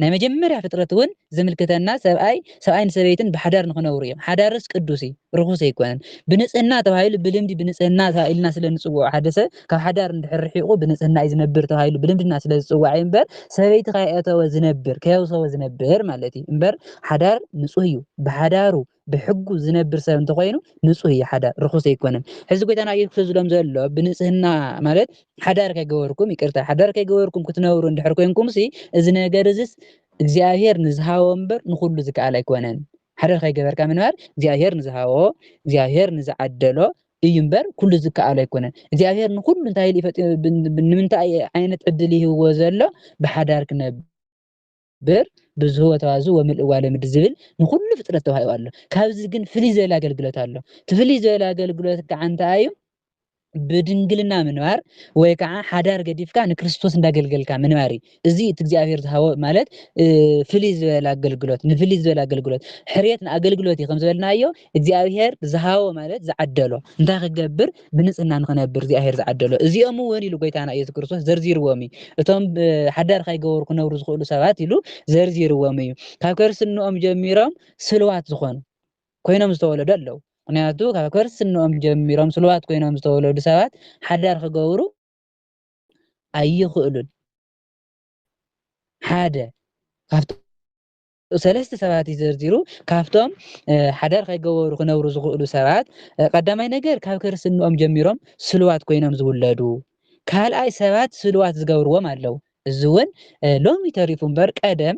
ናይ መጀመርያ ፍጥረት ውን ዝምልክተና ሰብኣይ ሰብኣይን ሰበይትን ብሓዳር ንክነብሩ እዮም ሓዳርስ ቅዱስ እዩ ርኹስ ኣይኮነን ብንጽህና ተባሂሉ ብልምዲ ብንጽህና ኢልና ስለ ንጽውዖ ሓደ ሰብ ካብ ሓዳር እንድሕር ርሒቑ ብንጽህና እዩ ዝነብር ተባሂሉ ብልምድና ስለ ዝጽዋዕ እዩ እምበር ሰበይቲ ከየእተወ ዝነብር ከየውሰወ ዝነብር ማለት እዩ እምበር ሓዳር ንጹህ እዩ ብሓዳሩ ብሕጉ ዝነብር ሰብ እንተኮይኑ ንጹህ እዩ ሓዳር ርኹስ ኣይኮነን ሕዚ ጎይታና ኢየሱስ ክርስቶስ ዝብሎም ዘሎ ብንጽህና ማለት ሓዳር ከይገበርኩም ይቅርታ ሓዳር ከይገበርኩም ክትነብሩ እንድሕር ኮንኩም ሲ እዚ ነገር እዚስ እግዚኣብሔር ንዝሃቦ እምበር ንኩሉ ዝከኣል ኣይኮነን ሓዳር ከይገበርካ ምንባር እግዚኣብሔር ንዝሃቦ እግዚኣብሔር ንዝዓደሎ እዩ እምበር ኩሉ ዝከኣሎ ኣይኮነን እግዚኣብሔር ንኩሉ እንታይ ኢሉ ይፈጥ ንምንታይ ዓይነት ዕድል ይህብዎ ዘሎ ብሓዳር ክነብር በር ብዙህወ ተዋዝ ወምልእዋ ለምድ ዝብል ንኩሉ ፍጥረት ተዋሂቡ ኣሎ ካብዚ ግን ፍልይ ዝበለ ኣገልግሎት ኣሎ እቲ ፍልይ ዝበለ ኣገልግሎት ከዓ እንታይ እዩ ብድንግልና ምንባር ወይ ከዓ ሓዳር ገዲፍካ ንክርስቶስ እንዳገልገልካ ምንባር እዩ እዚ እቲ እግዚኣብሔር ዝሃቦ ማለት ፍልይ ዝበለ ኣገልግሎት ንፍልይ ዝበለ ኣገልግሎት ሕርየት ንኣገልግሎት እዩ ከም ዝበልናዮ እግዚኣብሄር ዝሃቦ ማለት ዝዓደሎ እንታይ ክገብር ብንጽህና ንክነብር እግዚኣብሄር ዝዓደሎ እዚኦም እውን ኢሉ ጎይታና ኢየሱስ ክርስቶስ ዘርዚርዎም እዩ እቶም ሓዳር ካይገበሩ ክነብሩ ዝኽእሉ ሰባት ኢሉ ዘርዚርዎም እዩ ካብ ከርስንኦም ጀሚሮም ስልዋት ዝኾኑ ኮይኖም ዝተወለዱ ኣለዉ ምክንያቱ ካብ ከርስንኦም ጀሚሮም ስልዋት ኮይኖም ዝተወለዱ ሰባት ሓዳር ክገብሩ ኣይኽእሉን ሓደ ካብቲ ሰለስተ ሰባት እዩ ዘርዚሩ ካብቶም ሓዳር ከይገበሩ ክነብሩ ዝኽእሉ ሰባት ቀዳማይ ነገር ካብ ክርስትንኦም ጀሚሮም ስልዋት ኮይኖም ዝውለዱ ካልኣይ ሰባት ስልዋት ዝገብርዎም ኣለው እዚ እውን ሎሚ ተሪፉ እምበር ቀደም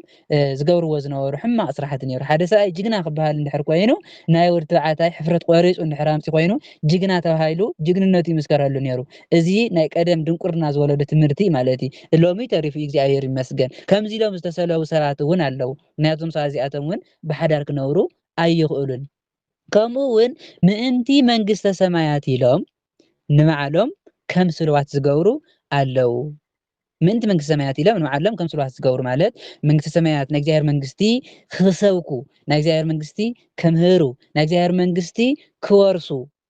ዝገብርዎ ዝነበሩ ሕማቕ ስራሕቲ ነይሩ ሓደ ሰብኣይ ጅግና ክበሃል እንድሕር ኮይኑ ናይ ወዲ ተባዕታይ ሕፍረት ቆሪፁ እንድሕር ኣምፂ ኮይኑ ጅግና ተባሂሉ ጅግንነቱ ይምስከረሉ ነይሩ እዚ ናይ ቀደም ድንቁርና ዝወለዶ ትምህርቲ ማለት እዩ ሎሚ ተሪፉ እግዚኣብሔር ይመስገን ከምዚ ኢሎም ዝተሰለቡ ሰባት እውን ኣለዉ ምክንያቱም ሰባት እዚኣቶም እውን ብሓዳር ክነብሩ ኣይኽእሉን ከምኡ እውን ምእንቲ መንግስተ ሰማያት ኢሎም ንባዕሎም ከም ስልዋት ዝገብሩ ኣለዉ ምእንቲ መንግስቲ ሰማያት ኢሎም ንባዕሎም ከም ስልዋት ዝገብሩ ማለት መንግስቲ ሰማያት ናይ እግዚኣብሔር መንግስቲ ክሰብኩ ናይ እግዚኣብሔር መንግስቲ ከምህሩ ናይ እግዚኣብሔር መንግስቲ ክወርሱ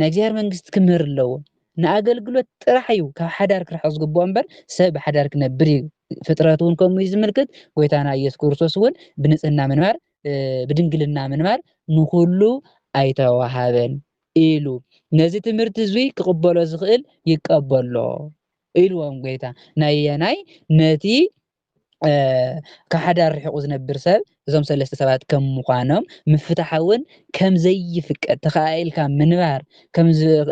ናይ እግዚኣብሔር መንግስቲ ክምህር ኣለዎ። ንኣገልግሎት ጥራሕ እዩ ካብ ሓዳር ክርሕቕ ዝግብኦ እምበር ሰብ ብሓዳር ክነብር እዩ። ፍጥረት እውን ከምኡ እዩ ዝምልክት። ጎይታና ኢየሱስ ክርስቶስ እውን ብንጽህና ምንባር ብድንግልና ምንባር ንኹሉ ኣይተዋሃበን ኢሉ ነዚ ትምህርቲ እዙይ ክቕበሎ ዝኽእል ይቀበሎ ኢልዎም ጎይታ ናየናይ ነቲ ካብ ሓዳር ርሒቑ ዝነብር ሰብ እዞም ሰለስተ ሰባት ከም ምዃኖም ምፍታሕ እውን ከም ዘይፍቀድ ተኸኣኢልካ ምንባር ከም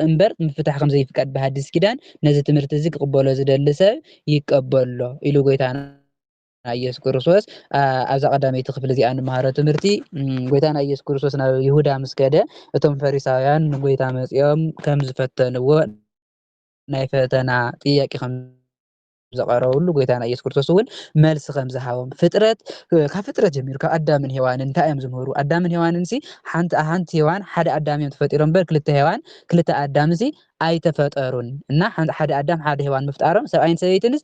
እምበር ምፍታሕ ከም ዘይፍቀድ ብሃዲስ ኪዳን ነዚ ትምህርቲ እዚ ክቕበሎ ዝደሊ ሰብ ይቀበሎ ኢሉ ጎይታና ኢየሱስ ክርስቶስ ኣብዛ ቀዳመይቲ ክፍሊ እዚኣ ንመሃሮ ትምህርቲ ጎይታና ኢየሱስ ክርስቶስ ናብ ይሁዳ ምስ ከደ እቶም ፈሪሳውያን ንጎይታ መጺኦም ከም ዝፈተንዎ ናይ ፈተና ጥያቄ ከም ዝቐረበሉ ጎይታና ኢየሱስ ክርስቶስ እውን መልሲ ከም ዝሃቦም ፍጥረት ካብ ፍጥረት ጀሚሩ ካብ ኣዳምን ሄዋንን እንታይ እዮም ዝምህሩ ኣዳምን ሄዋንን ሲ ሓንቲ ሓንቲ ሄዋን ሓደ ኣዳም እዮም ተፈጢሮም እምበር ክልተ ሄዋን ክልተ ኣዳም ሲ ኣይተፈጠሩን እና ሓደ ኣዳም ሓደ ሄዋን ምፍጣሮም ሰብኣይን ሰበይትንስ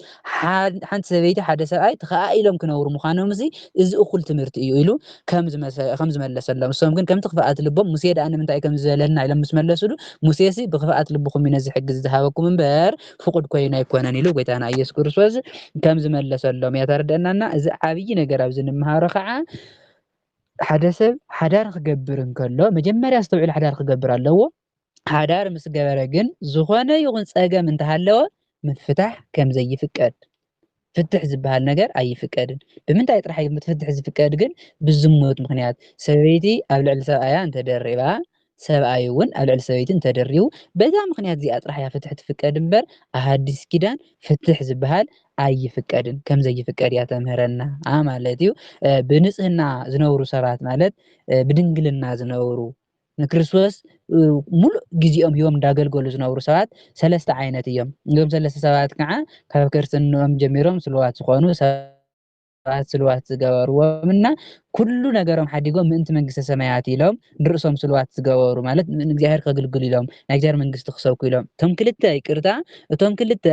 ሓንቲ ሰበይቲ ሓደ ሰብኣይ ተኸኣኢሎም ክነብሩ ምዃኖም ሲ እዚ እኹል ትምህርቲ እዩ ኢሉ ከም ዝመለሰሎም እሶም ግን ከምቲ ክፍኣት ልቦም ሙሴ ደኣ ንምንታይ ከም ዝበለና ኢሎም ምስ መለሱሉ ሙሴ ሲ ብክፍኣት ልብኹም እዩ ነዚ ሕጊ ዝሃበኩም እምበር ፍቁድ ኮይኑ ኣይኮነን ኢሉ ጎይታና ኢየሱስ ክርስቶስ ከም ዝመለሰሎም እያ ተረደናና እዚ ዓብይ ነገር ኣብዚ ንምሃሮ ከዓ ሓደ ሰብ ሓዳር ክገብር እንከሎ መጀመርያ ዝተውዕል ሓዳር ክገብር ኣለዎ ሓዳር ምስ ገበረ ግን ዝኾነ ይኹን ጸገም እንተሃለወ ምፍታሕ ከም ዘይፍቀድ ፍትሕ ዝበሃል ነገር ኣይፍቀድን። ብምንታይ ጥራሕ እዩ ፍትሕ ዝፍቀድ ግን ብዝሙት ምኽንያት ሰበይቲ ኣብ ልዕሊ ሰብኣያ እንተደሪባ ሰብኣይ እውን ኣብ ልዕሊ ሰበይቲ እንተደሪቡ በዛ ምኽንያት እዚኣ ጥራሕ እያ ፍትሕ ትፍቀድ እምበር ኣብ ሃዲስ ኪዳን ፍትሕ ዝበሃል ኣይፍቀድን ከም ዘይፍቀድ እያ ተምህረና ማለት እዩ። ብንጽህና ዝነብሩ ሰባት ማለት ብድንግልና ዝነብሩ ንክርስቶስ ሙሉእ ግዜኦም ሂቦም እንዳገልገሉ ዝነብሩ ሰባት ሰለስተ ዓይነት እዮም። እዞም ሰለስተ ሰባት ከዓ ካብ ክርስትንኦም ጀሚሮም ስሉዋት ዝኾኑ ሰባት ስሉዋት ዝገበርዎም እና ኩሉ ነገሮም ሓዲጎም ምእንቲ መንግስተ ሰማያት ኢሎም ንርእሶም ስሉዋት ዝገበሩ ማለት ንእግዚኣብሔር ከግልግሉ ኢሎም ናይ እግዚኣብሔር መንግስቲ ክሰብኩ ኢሎም እቶም ክልተ ይቅርታ እቶም ክልተ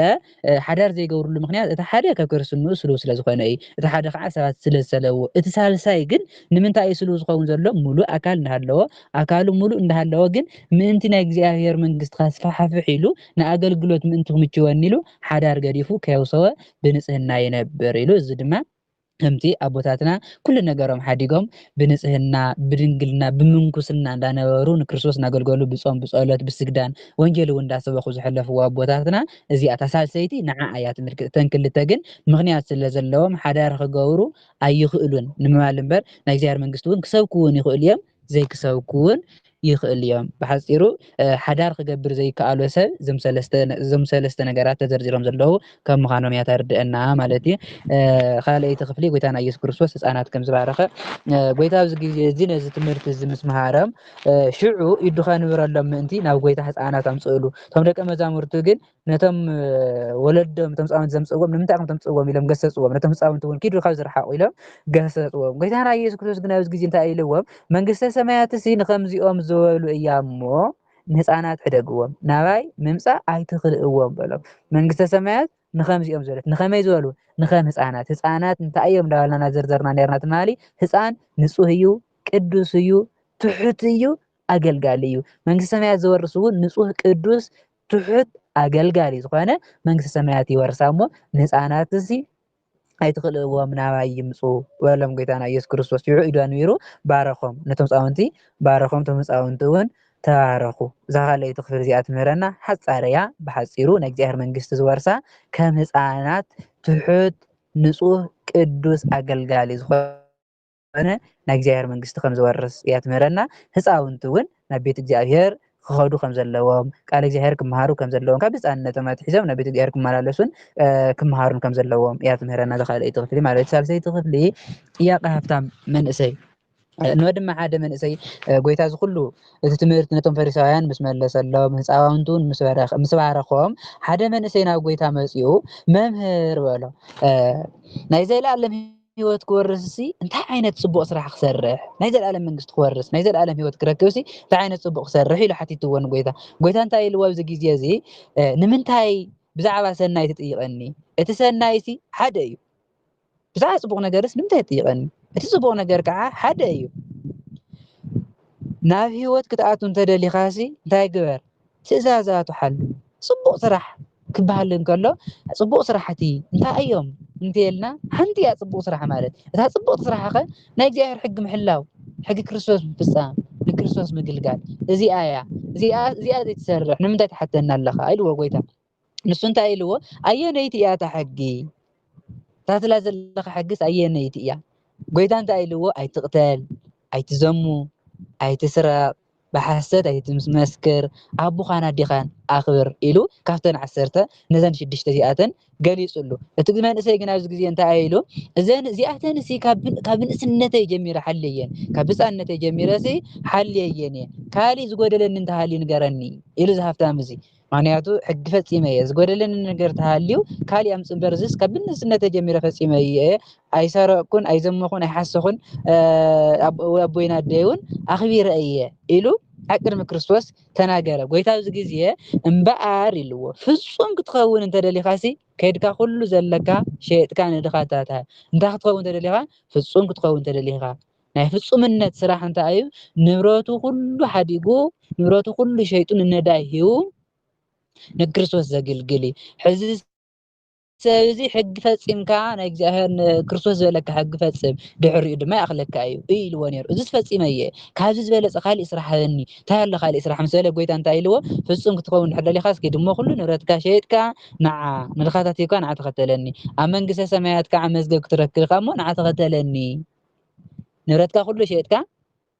ሓዳር ዘይገብርሉ ምኽንያት እቲ ሓደ ካብ ክርስትንኡ ስሉው ስለ ዝኾነ እዩ፣ እቲ ሓደ ኸዓ ሰባት ስለ ዝሰለብዎ፣ እቲ ሳልሳይ ግን ንምንታይ እዩ ስሉው ዝኸውን ዘሎ? ምሉእ ኣካል እንዳሃለዎ፣ ኣካሉ ምሉእ እንዳሃለወ ግን ምእንቲ ናይ እግዚኣብሄር መንግስቲ ከስፋሕፍሕ ኢሉ ንኣገልግሎት ምእንቲ ክምችወኒ ኢሉ ሓዳር ገዲፉ ከየውሰወ ብንጽህና ይነብር ኢሉ እዚ ድማ ከምቲ ኣቦታትና ኩሉ ነገሮም ሓዲጎም ብንጽህና ብድንግልና ብምንኩስና እንዳነበሩ ንክርስቶስ እንዳገልገሉ ብጾም ብጸሎት ብስግዳን ወንጌል እውን እንዳሰበኹ ዝሐለፍዎ ኣቦታትና እዚኣ እታ ሳልሰይቲ ንዓ እያ ትምልክት እተን ክልተ ግን ምኽንያት ስለዘለዎም ሐዳር ክገብሩ ኣይኽእሉን ንምባል እምበር ናይ እግዚኣብሔር መንግስቲ እውን ክሰብኩ እውን ይኽእሉ እዮም ዘይክሰብኩ'ውን ይኽእሉ እዮም። ብሓጺሩ ሓዳር ክገብር ዘይከኣሎ ሰብ እዞም ሰለስተ እዞም ሰለስተ ነገራት ተዘርዚሮም ዘለዉ ካብ ምዃኖም እያ ተርድእና ማለት እዩ። ካልኣይቲ ክፍሊ ጎይታና ኢየሱስ ክርስቶስ ህጻናት ከም ዝባረኸ ጎይታ ኣብዚ ግዜ እዚ ነዚ ትምህርቲ እዚ ምስ መሃሮም ሽዑ ኢዱ ከንብረሎም ምእንቲ ናብ ጎይታ ህጻናት ኣምጽእሉ። እቶም ደቀ መዛሙርቱ ግን ነቶም ወለዶም እቶም ህፃውንቲ ዘምፅእዎም ንምንታይ ከም ተምፅእዎም ኢሎም ገሰፅዎም ነቶም ህፃውንቲ እውን ኪዱ ካብ ዝረሓቑ ኢሎም ገሰፅዎም ጎይታና ኢየሱስ ክርስቶስ ግን ኣብዚ ግዜ እንታይ ኢልዎም መንግስተ ሰማያት እሲ ንከምዚኦም ዝበሉ እያ እሞ ንህፃናት ሕደግዎም ናባይ ምምፃእ ኣይትኽልእዎም በሎም መንግስተ ሰማያት ንከምዚኦም ዝበለት ንከመይ ዝበሉ ንከም ህፃናት ህፃናት እንታይ እዮም እንዳበልና ናዘርዘርና ነርና ትማሊ ህፃን ንፁህ እዩ ቅዱስ እዩ ትሑት እዩ ኣገልጋሊ እዩ መንግስተ ሰማያት ዝወርስ እውን ንፁህ ቅዱስ ትሑት ኣገልጋሊ ዝኾነ መንግስተ ሰማያት ይወርሳ እሞ ንህፃናትሲ ኣይትኽልእዎም ናባይ ይምፁ በሎም ጎይታና ኢየሱስ ክርስቶስ ሽዑ ኢዱ ኣንቢሩ ባረኾም ነቶም ህፃውንቲ ባረኾም እቶም ህፃውንቲ እውን ተባረኹ እዛ ካልኣይቲ ክፍል እዚኣ ትምህረና ሓፃር እያ ብሓፂሩ ናይ እግዚኣብሔር መንግስቲ ዝወርሳ ከም ህፃናት ትሑት ንፁህ ቅዱስ ኣገልጋሊ ዝኾነ ኮነ ናይ እግዚኣብሔር መንግስቲ ከም ዝወርስ እያ ትምህረና ህፃውንቲ እውን ናብ ቤት እግዚኣብሔር ክኸዱ ከም ዘለዎም ቃል እግዚኣብሔር ክመሃሩ ከም ዘለዎም ካብ ህፃንነቶም ኣትሒዞም ናብ ቤት እግዚኣብሔር ክመላለሱን ክመሃሩን ከም ዘለዎም እያ ትምህረና ዝካልኣይቲ ክፍሊ ማለት ሳልሰይቲ ክፍሊ ጥያቄ ሃብታም መንእሰይ እንሆ ድማ ሓደ መንእሰይ ጎይታ እዚ ኩሉ እቲ ትምህርቲ ነቶም ፈሪሳውያን ምስ መለሰሎም ህፃውንቲ እውን ምስ ባረኾም ሓደ መንእሰይ ናብ ጎይታ መፂኡ መምህር በሎ ናይ ዘለኣለም ህይወት ክወርስሲ እንታይ ዓይነት ፅቡቕ ስራሕ ክሰርሕ ናይ ዘለኣለም መንግስቲ ክወርስ ናይ ዘለኣለም ህይወት ክረክብሲ እንታይ ዓይነት ፅቡቕ ክሰርሕ ኢሉ ሓቲትዎ ንጎይታ ጎይታ እንታይ ኢልዎ ኣብዚ ግዜ እዚ ንምንታይ ብዛዕባ ሰናይ ትጥይቐኒ እቲ ሰናይ ሲ ሓደ እዩ ብዛዕባ ፅቡቕ ነገርስ ንምንታይ ትጥይቐኒ እቲ ፅቡቕ ነገር ከዓ ሓደ እዩ ናብ ህይወት ክትኣቱ እንተደሊኻሲ እንታይ ግበር ትእዛዛቱ ሓሉ። ጽቡቕ ስራሕ ክበሃል እንከሎ ጽቡቕ ስራሕቲ እንታይ እዮም እንተይልና ሓንቲ እያ ጽቡቕ ስራሕ ማለት። እታ ጽብቕቲ ስራሕኸ ናይ እግዚኣብሔር ሕጊ ምሕላው፣ ሕጊ ክርስቶስ ምፍጻም፣ ንክርስቶስ ምግልጋል እዚኣ እያ። እዚኣ እዚኣ ዘይትሰርሕ ንምንታይ ትሓተኒ ኣለኻ ኢልዎ ጎይታ። ንሱ እንታይ ኢልዎ ኣየነይቲ እያ እታ ሕጊ ታትላ ዘለካ ሕግስ ኣየነይቲ እያ ጎይታ እንታይ ኢልዎ ኣይትቕተል ኣይትዘሙ ኣይትስረቕ ብሓሰት ኣይትመስክር ኣቦኻን ኣዴኻን ኣኽብር ኢሉ ካብተን ዓሰርተ ነዘን ሽዱሽተ እዚኣተን ገሊፁሉ እቲ መንእሰይ ግን ኣብዚ ግዜ እንታይ ኢሉ እዘን እዚኣተን ሲ ካብ ንእስነተይ ጀሚረ ሓልየን ካብ ህፃነተይ ጀሚረ ሲ ሓልየየን እየ ካሊእ ዝጎደለኒ እንተሃልዩ ንገረኒ ኢሉ ዝሃፍታም እዚ ምክንያቱ ሕጊ ፈጺመ እየ ዝጎደለኒ ነገር ተሃልዩ ካሊእ ኣምጽእ እምበር እዚስ ካብ ብንእስነተ ጀሚረ ፈጺመ እየ ኣይሰረቕኩን ኣይዘመኹን ኣይሓሰኹን ኣቦይን ኣደይ እውን ኣኽቢረ እየ ኢሉ ኣብ ቅድሚ ክርስቶስ ተናገረ ጎይታ ኣብዚ ግዜ እምበኣር ኢልዎ ፍጹም ክትኸውን እንተደሊኻሲ ከድካ ኩሉ ዘለካ ሸየጥካ ንድኻታት እንታይ ክትኸውን ተደሊኻ ፍጹም ክትኸውን ተደሊኻ ናይ ፍጹምነት ስራሕ እንታይ እዩ? ንብረቱ ኩሉ ሓዲጉ ንብረቱ ኩሉ ሸይጡ ንነዳይ ሂቡ ንክርስቶስ ዘግልግል እዩ። ሕዚ ሰብ እዚ ሕጊ ፈጺምካ ናይ እግዚኣብሔር ንክርስቶስ ዝበለካ ሕጊ ፈጽም ድሕሪኡ ድማ ይኣኽለካ እዩ እዩ ኢልዎ ነይሩ። እዚ ፈጺመ እየ ካብዚ ዝበለጸ ካሊእ ስራሕ ሃበኒ እንታይ ኣሎ ካሊእ ስራሕ ምስ በለ ጎይታ እንታይ ኢልዎ ፍጹም ክትኸውን ድሕር ደሊኻ እስኪ ድሞ ኩሉ ንብረትካ ሸይጥካ ንዓ ምልኻታት ሂብካ ንዓ ተኸተለኒ ኣብ መንግስተ ሰማያት ከዓ መዝገብ ክትረክብ ኢኻ እሞ ንዓ ተኸተለኒ ንብረትካ ኩሉ ሸጥካ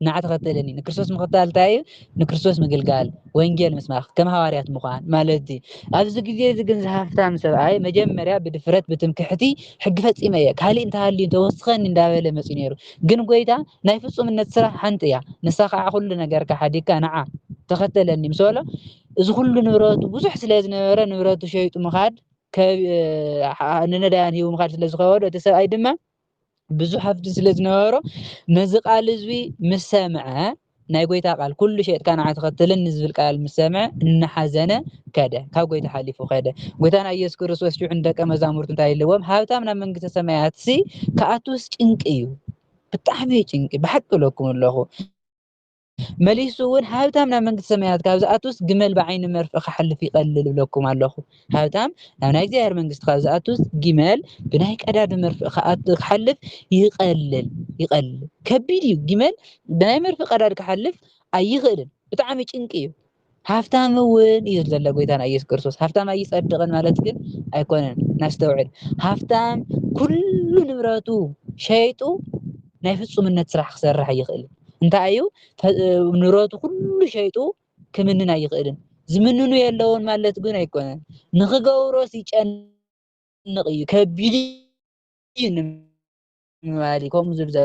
ንዓ ተኸተለኒ ንክርስቶስ ምኽታል እንታይ እዩ ንክርስቶስ ምግልጋል ወንጌል ምስባኽ ከም ሃዋርያት ምዃን ማለት እዩ ኣብዚ ግዜ እዚ ግን ዝሃፍታም ሰብኣይ መጀመርያ ብድፍረት ብትምክሕቲ ሕጊ ፈፂመ እየ ካሊእ እንተሃልዩ ተወስኸኒ እንዳበለ መፅዩ ነይሩ ግን ጎይታ ናይ ፍፁምነት ስራሕ ሓንቲ እያ ንሳ ከዓ ኩሉ ነገርካ ሓዲግካ ንዓ ተኸተለኒ ምስ በሎ እዚ ኩሉ ንብረቱ ብዙሕ ስለ ዝነበረ ንብረቱ ሸይጡ ምኻድ ንነዳያን ሂቡ ምኻድ ስለ ዝኸበዶ እቲ ሰብኣይ ድማ ብዙሕ ሃፍቲ ስለ ዝነበሮ ነዚ ቃል እዙ ምስ ሰምዐ ናይ ጎይታ ቃል ኩሉ ሸጥካ ንዓ ተኸተለኒ ዝብል ቃል ምስ ሰምዐ እናሓዘነ ከደ ካብ ጎይታ ሓሊፉ ከደ ጎይታና ኢየሱስ ክርስቶስ ሽዑ ንደቀ መዛሙርቱ እንታይ ኢልዎም ሃብታም ናብ መንግስተ ሰማያት ሲ ክኣትውስ ጭንቂ እዩ ብጣዕሚ ጭንቂ ብሓቂ እለኩም ኣለኹ መሊሱ እውን ሃብታም ናብ መንግስቲ ሰማያት ካብ ዝኣቱስ ግመል ብዓይኒ መርፍእ ክሓልፍ ይቐልል እብለኩም ኣለኹ። ሃብታም ናብ ናይ እግዚኣብሔር መንግስቲ ካብ ዝኣቱስ ግመል ብናይ ቀዳዱ መርፍእ ክሓልፍ ይቐልል ይቐልል። ከቢድ እዩ። ግመል ብናይ መርፍእ ቀዳድ ክሓልፍ ኣይኽእልን። ብጣዕሚ ጭንቂ እዩ። ሃፍታም እውን እዩ ዘሎ ጎይታና ኢየሱስ ክርስቶስ ሃፍታም ኣይጸድቕን ማለት ግን ኣይኮነን ናስተውዕል ሃፍታም ኩሉ ንብረቱ ሸይጡ ናይ ፍጹምነት ስራሕ ክሰርሕ ይኽእል እንታይ እዩ ንብረቱ ኩሉ ሸይጡ ክምንን ኣይኽእልን ዝምንኑ የለውን ማለት ግን ኣይኮነን ንኽገብሮስ ይጨንቕ እዩ ከቢድ እዩ ንማሊ ከምኡ ዝብዘ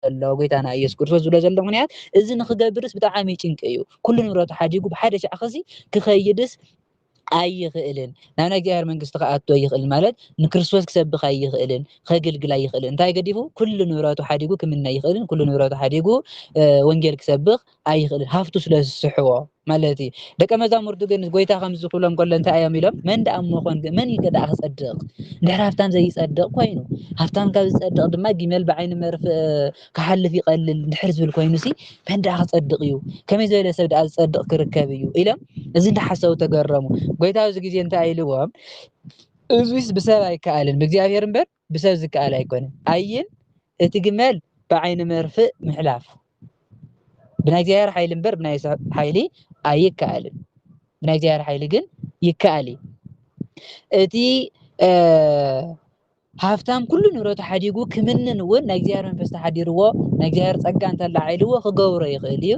ዘሎ ጎይታና ኢየሱስ ክርስቶስ ዝብሎ ዘሎ ምክንያት እዚ ንክገብርስ ብጣዕሚ ጭንቂ እዩ ኩሉ ንብረቱ ሓዲጉ ብሓደ ሻዕ ክሲ ክኸይድስ ኣይኽእልን ናብ ናይ እግዚኣብሔር መንግስቲ ክኣቶ ይኽእል ማለት ንክርስቶስ ክሰብክ ኣይኽእልን ከግልግል ኣይኽእልን እንታይ ገዲፉ ኩሉ ንብረቱ ሓዲጉ ክምነ ይኽእልን ኩሉ ንብረቱ ሓዲጉ ወንጌል ክሰብክ ኣይኽእልን ሃፍቱ ስለ ዝስሕቦ ማለት እዩ ደቀ መዛሙርቱ ግን ጎይታ ከምዚ ክብሎም ከሎ እንታይ እዮም ኢሎም መን ደኣ መኾን መን እዩ ደኣ ክጸድቕ ድሕሪ ሃብታም ዘይጸድቕ ኮይኑ ሃብታም ካብ ዝጸድቕ ድማ ጊመል ብዓይኒ መርፍ ክሓልፍ ይቐልል ድሕር ዝብል ኮይኑ ሲ መን ደኣ ክጸድቕ እዩ ከመይ ዝበለ ሰብ ደኣ ዝጸድቕ ክርከብ እዩ ኢሎም እዚ እንዳሓሰቡ ተገረሙ ጎይታ ኣብዚ ግዜ እንታይ ኢልዎም እዙይስ ብሰብ ኣይከኣልን ብእግዚኣብሔር እምበር ብሰብ ዝከኣል ኣይኮነን ኣይን እቲ ግመል ብዓይኒ መርፍእ ምሕላፍ ብናይ እግዚኣብሔር ሓይሊ እምበር ብናይ ሰብ ሓይሊ ኣይከኣልን ብናይ እግዚኣብሔር ሓይሊ ግን ይከኣል እዩ እቲ ሃብታም ኩሉ ንብረቱ ሓዲጉ ክምንን እውን ናይ እግዚኣብሔር መንፈስ ተሓዲርዎ ናይ እግዚኣብሔር ፀጋ እንተላዓይልዎ ክገብሮ ይኽእል እዩ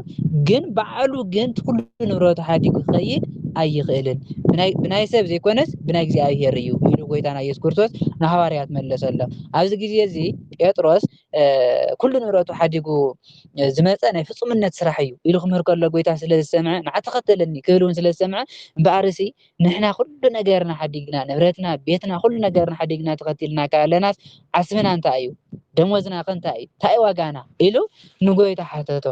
ግን በዓሉ ግን ኩሉ ኩሉ ንብረቱ ሓዲጉ ክኸይድ ኣይኽእልን። ብናይ ብናይ ሰብ ዘይኮነስ ብናይ እግዚኣብሔር እዩ ኢሉ ጎይታና ኢየሱስ ክርስቶስ ንሃዋርያት መለሰሎም። ኣብዚ ግዜ እዚ ጴጥሮስ ኩሉ ንብረቱ ሓዲጉ ዝመፀ ናይ ፍፁምነት ስራሕ እዩ ኢሉ ክምህር ከሎ ጎይታ ስለ ዝሰምዐ ንዓ ተኸተለኒ ክብል እውን ስለ ዝሰምዐ እምበኣርሲ ንሕና ኩሉ ነገርና ሓዲግና ንብረትና፣ ቤትና፣ ኩሉ ነገርና ሓዲግና ተኸቲልና ካለናስ ዓስብና እንታይ እዩ? ደሞዝና ከ እንታይ እዩ? እንታይ እዩ ዋጋና? ኢሉ ንጎይታ ሓተቶ።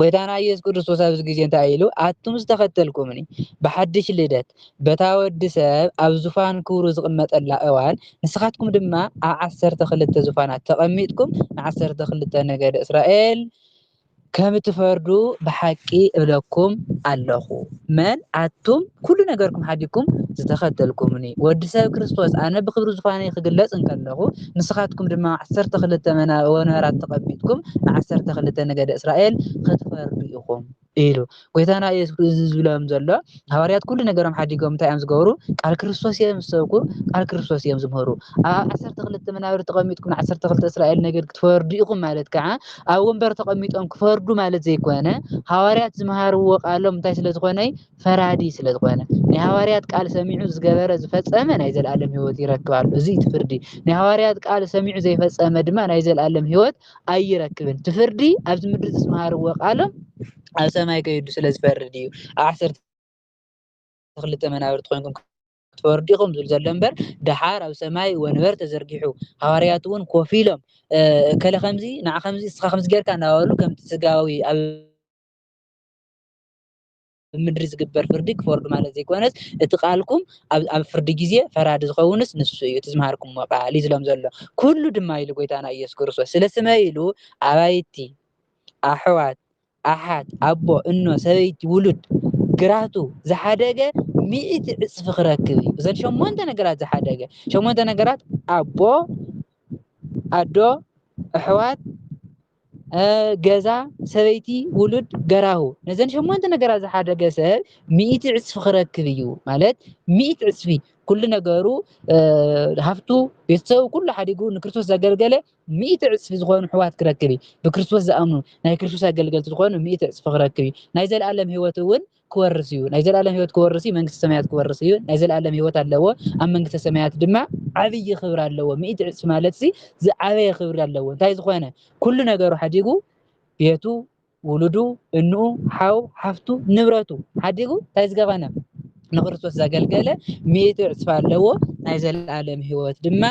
ጐይታና ኢየሱስ ክርስቶስ ኣብዚ ግዜ እንታይ ኢሉ? ኣቱም ዝተኸተልኩምኒ ብሓድሽ ልደት በታ ወዲ ሰብ ኣብ ዙፋን ክብሩ ዝቕመጠላ እዋን ንስኻትኩም ድማ ኣብ ዓሰርተ ክልተ ዙፋናት ተቐሚጥኩም ንዓሰርተ ክልተ ነገደ እስራኤል ከም እትፈርዱ ብሓቂ እብለኩም ኣለኹ። መን ኣቱም ኩሉ ነገርኩም ሓዲግኩም ዝተኸተልኩምኒ ወዲ ሰብ ክርስቶስ ኣነ ብክብሪ ዝዃነ ክግለጽ እንከለኹ ንስኻትኩም ድማ ዓሰርተ ክልተ ወንበራት ተቐቢጥኩም ንዓሰርተ ክልተ ነገደ እስራኤል ክትፈርዱ ኢኹም ኢሉ ጎይታና ኢየሱስ እዚ ዝብሎም ዘሎ ሃዋርያት ኩሉ ነገሮም ሓዲጎም እንታይ እዮም ዝገብሩ ቃል ክርስቶስ እዮም ዝሰብኩ ቃል ክርስቶስ እዮም ዝምህሩ ኣብ ዓሰርተ ክልተ መናብር ተቐሚጥኩም ንዓሰርተ ክልተ እስራኤል ነገድ ክትፈርዱ ኢኹም ማለት ከዓ ኣብ ወንበር ተቐሚጦም ክፈርዱ ማለት ዘይኮነ ሃዋርያት ዝመሃርዎ ቃሎም እንታይ ስለ ዝኾነይ ፈራዲ ስለ ዝኾነ ናይ ሃዋርያት ቃል ሰሚዑ ዝገበረ ዝፈጸመ ናይ ዘለኣለም ህይወት ይረክብ ኣሎ እዚ እቲ ፍርዲ ናይ ሃዋርያት ቃል ሰሚዑ ዘይፈጸመ ድማ ናይ ዘለኣለም ህይወት ኣይረክብን እቲ ፍርዲ ኣብዚ ምድሪ ዝመሃርዎ ቃሎም ኣብ ሰማይ ከይዱ ስለ ዝፈርድ እዩ ኣብ ዓሰርተ ክልተ መናብርቲ ኮይንኩም ተወርዲኹም ዝብል ዘሎ እምበር ደሓር ኣብ ሰማይ ወንበር ተዘርጊሑ ሃዋርያት እውን ኮፍ ኢሎም እከለ ከምዚ ንዓ ከምዚ እስኻ ከምዚ ጌርካ እናበሉ ከምቲ ስጋዊ ኣብ ምድሪ ዝግበር ፍርዲ ክፈርዱ ማለት ዘይኮነስ እቲ ቃልኩም ኣብ ፍርዲ ግዜ ፈራዲ ዝኸውንስ ንሱ እዩ እቲ ዝምሃርኩምዎ ቃል እዩ ዝሎም ዘሎ ኩሉ ድማ ኢሉ ጎይታና ኢየሱስ ክርስቶስ ስለ ስመ ኢሉ ኣባይቲ ኣሕዋት ኣሓት፣ ኣቦ፣ እኖ፣ ሰበይቲ፣ ውሉድ፣ ግራቱ ዝሓደገ ሚእቲ ዕጽፊ ክረክብ እዩ። እዘን ሸሞንተ ነገራት ዝሓደገ ሸሞንተ ነገራት ኣቦ፣ ኣዶ፣ ኣሕዋት፣ ገዛ፣ ሰበይቲ፣ ውሉድ፣ ገራሁ ነዘን ሸሞንተ ነገራት ዝሓደገ ሰብ ሚእቲ ዕጽፊ ክረክብ እዩ ማለት ሚእቲ ዕጽፊ ኩሉ ነገሩ ሃፍቱ፣ ቤተሰቡ ኩሉ ሓዲጉ ንክርስቶስ ዘገልገለ ሚእቲ ዕጽፊ ዝኾኑ ኣሕዋት ክረክብ እዩ። ብክርስቶስ ዝኣምኑ፣ ናይ ክርስቶስ ኣገልገልቲ ዝኾኑ ሚእቲ ዕጽፊ ክረክብ እዩ። ናይ ዘለኣለም ህይወት እውን ክወርስ እዩ። ናይ ዘለኣለም ህይወት ክወርስ እዩ፣ መንግስተ ሰማያት ክወርስ እዩ። ናይ ዘለኣለም ህይወት ኣለዎ፣ ኣብ መንግስተ ሰማያት ድማ ዓብዪ ክብሪ ኣለዎ። ሚእቲ ዕጽፊ ማለትሲ ዝዓበየ ክብሪ ኣለዎ። እንታይ ዝኾነ? ኩሉ ነገሩ ሓዲጉ ቤቱ፣ ውሉዱ፣ እንኡ፣ ሓው፣ ሓፍቱ፣ ንብረቱ ሓዲጉ ታይ ዝገባና ንክርስቶስ ዘገልገለ ሚእቲ ዕፅፊ ኣለዎ ናይ ዘለኣለም ህይወት ድማ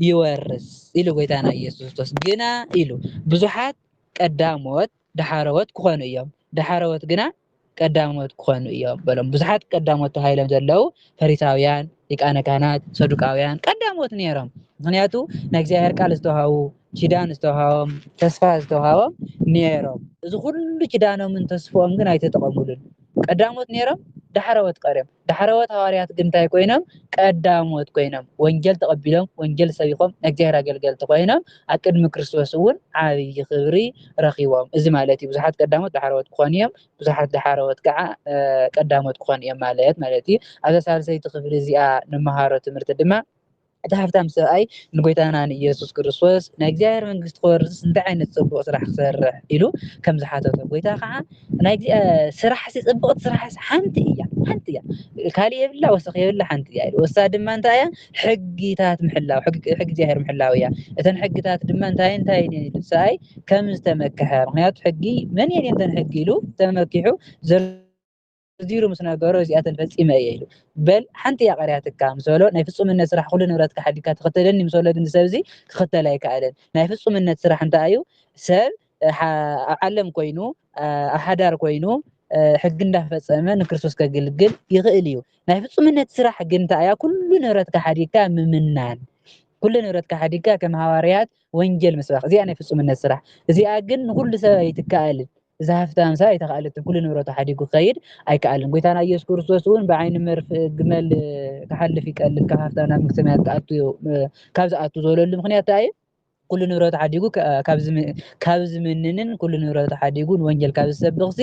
ይወርስ ኢሉ ጎይታና ኢየሱስ ክርስቶስ ግና ኢሉ ብዙሓት ቀዳሞት ዳሓረዎት ክኾኑ እዮም ዳሓረዎት ግና ቀዳሞት ክኾኑ እዮም በሎም። ብዙሓት ቀዳሞት ተባሂሎም ዘለዉ ፈሪሳውያን፣ ሊቃነ ካህናት፣ ሰዱቃውያን ቀዳሞት ነይሮም። ምክንያቱ ናይ እግዚኣብሔር ቃል ዝተዋሃቡ ኪዳን ዝተውሃቦም ተስፋ ዝተውሃቦም ኔሮም እዚ ኩሉ ኪዳኖምን ተስፍኦም ግን ኣይተጠቐሙሉን ቀዳሞት ኔሮም ዳሕረዎት ቀርዮም ዳሕረዎት ሃዋርያት ግን እንታይ ኮይኖም ቀዳሞት ኮይኖም ወንጌል ተቐቢሎም ወንጌል ሰቢኾም ናይ እግዚኣብሔር ኣገልገልቲ ኮይኖም ኣብ ቅድሚ ክርስቶስ እውን ዓብዪ ክብሪ ረኺቦም እዚ ማለት እዩ ብዙሓት ቀዳሞት ዳሕረዎት ክኾኑ እዮም ብዙሓት ዳሕረዎት ከዓ ቀዳሞት ክኾኑ እዮም ማለት ማለት እዩ ኣብዛ ሳልሰይቲ ክፍሊ እዚኣ ንመሃሮ ትምህርቲ ድማ እቲ ሃብታም ሰብኣይ ንጎይታና ንኢየሱስ ክርስቶስ ናይ እግዚኣብሔር መንግስቲ ክወርስስ እንታይ ዓይነት ጽቡቕ ስራሕ ክሰርሕ ኢሉ ከም ዝሓተቶ ጎይታ ከዓ ናይ ስራሕ ሲ ጽቡቕቲ ስራሕ ሓንቲ እያ ሓንቲ እያ ካልእ የብላ ወሰኽ የብላ ሓንቲ እያ ኢሉ ወሳ ድማ እንታይ እያ ሕጊታት ምሕላው ሕጊ እግዚኣብሔር ምሕላው እያ እተን ሕጊታት ድማ እንታይ እንታይ እየን ኢሉ ሰብኣይ ከም ዝተመክሐ ምክንያቱ ሕጊ መን እየን እየን እተን ሕጊ ኢሉ ተመኪሑ ዘሎ ኣዚሩ ምስ ነገሮ እዚኣተን ፈጺመ እየ ኢሉ በል ሓንቲ እያ ቀርያትካ ምስ በሎ ናይ ፍጹምነት ስራሕ ኩሉ ንብረትካ ሓዲግካ ትኽተለኒ ምስ በሎ ግን ሰብ እዚ ክኽተል ኣይከኣለን ናይ ፍጹምነት ስራሕ እንታይ እዩ ሰብ ኣብ ዓለም ኮይኑ ኣብ ሓዳር ኮይኑ ሕጊ እንዳፈጸመ ንክርስቶስ ከገልግል ይኽእል እዩ ናይ ፍጹምነት ስራሕ ግን እንታይ እያ ኩሉ ንብረትካ ሓዲግካ ምምናን ኩሉ ንብረትካ ሓዲግካ ከም ሃዋርያት ወንጌል ምስባኽ እዚኣ ናይ ፍጹምነት ስራሕ እዚኣ ግን ንኩሉ ሰብ ኣይትከኣልን እዚ ሃፍቲ ኣንሳ ኣይተኻእለትን፣ ኩሉ ንብረቱ ሓዲጉ ክኸይድ ኣይከኣልን። ጎይታና ኢየሱስ ክርስቶስ እውን ብዓይኒ መርፍእ ግመል ክሓልፍ ይቀልል ካብ ሃፍታ ናብ መንግስተ ሰማያት ክኣቱ ካብ ዝኣቱ ዝበለሉ ምክንያት እንታይ እዩ? ኩሉ ንብረቱ ሓዲጉ ካብ ዝምንንን ኩሉ ንብረቱ ሓዲጉ ንወንጀል ካብ ዝሰብኽ ሲ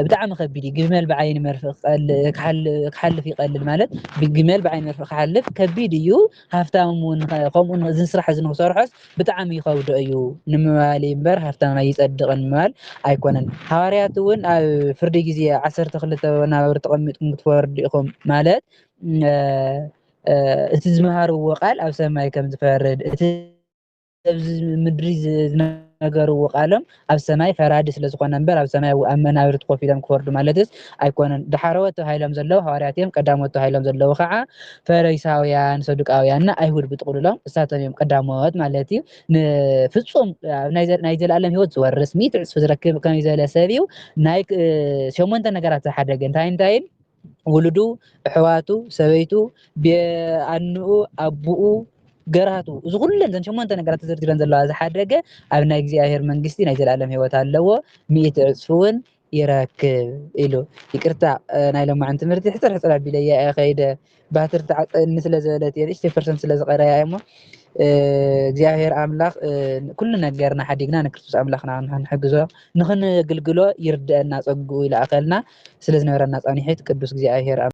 ብጣዕሚ ከቢድ እዩ። ግመል ብዓይኒ መርፍእ ክሓልፍ ይቀልል ማለት ግመል ብዓይኒ መርፍእ ክሓልፍ ከቢድ እዩ። ሃፍታም ውን ከምኡ እዚ ስራሕ እዚ ንክሰርሖስ ብጣዕሚ ይኸብዶ እዩ ንምባል እዩ እምበር ሃፍታም ኣይጸድቕን ንምባል ኣይኮነን። ሃዋርያት እውን ኣብ ፍርዲ ግዜ ዓሰርተ ክልተ ወናብር ተቐሚጥኩም ክትፈርዱ ኢኹም ማለት እቲ ዝመሃርዎ ቃል ኣብ ሰማይ ከም ዝፈርድ እቲ ኣብዚ ምድሪ ዝነገርዎ ቃሎም ኣብ ሰማይ ፈራዲ ስለ ዝኾነ እምበር ኣብ ሰማይ ኣብ መናብርቲ ኮፍ ኢሎም ክፈርዱ ማለትስ ኣይኮነን። ዳሕረዎት ተባሂሎም ዘለዉ ሃዋርያት እዮም፣ ቀዳሞት ተባሂሎም ዘለዉ ከኣ ፈሪሳውያን፣ ሰዱቃውያን እና ኣይሁድ ብጥቕሉሎም እሳቶም እዮም ቀዳሞት ማለት እዩ። ንፍጹም ናይ ዘለኣለም ህይወት ዝወርስ ሚእቲ ዕጽፊ ዝረክብ ከመይ ዝበለ ሰብ እዩ? ናይ ሸሞንተ ነገራት ዝሓደገ እንታይን እንታይን? ውሉዱ፣ ኣሕዋቱ፣ ሰበይቱ፣ ቢኣንኡ፣ ኣቡኡ፣ ገራህቱ እዚ ኩለን ዘን ሸሞንተ ነገራት ተዘርዚረን ዘለዋ ዝሓደገ ኣብ ናይ እግዚኣብሔር መንግስቲ ናይ ዘለኣለም ህይወት ኣለዎ ሚእቲ ዕጽፊ እውን ይረክብ ኢሉ ይቅርታ ናይ ሎማዕን ትምህርቲ ሕፅር ሕፅር ኣቢለያ እየ ከይደ ባትሪ ተዓፀኒ ስለ ዝበለት እየ ንእሽተይ ፐርሰንት ስለ ዝቀረያ እሞ እግዚኣብሔር ኣምላኽ ኩሉ ነገርና ሓዲግና ንክርስቶስ ኣምላኽና ንሕግዞ ንኽንግልግሎ ይርደኣና ጸግኡ ይልኣኸልና ስለ ዝነበረና ጻኒሒት ቅዱስ እግዚኣብሔር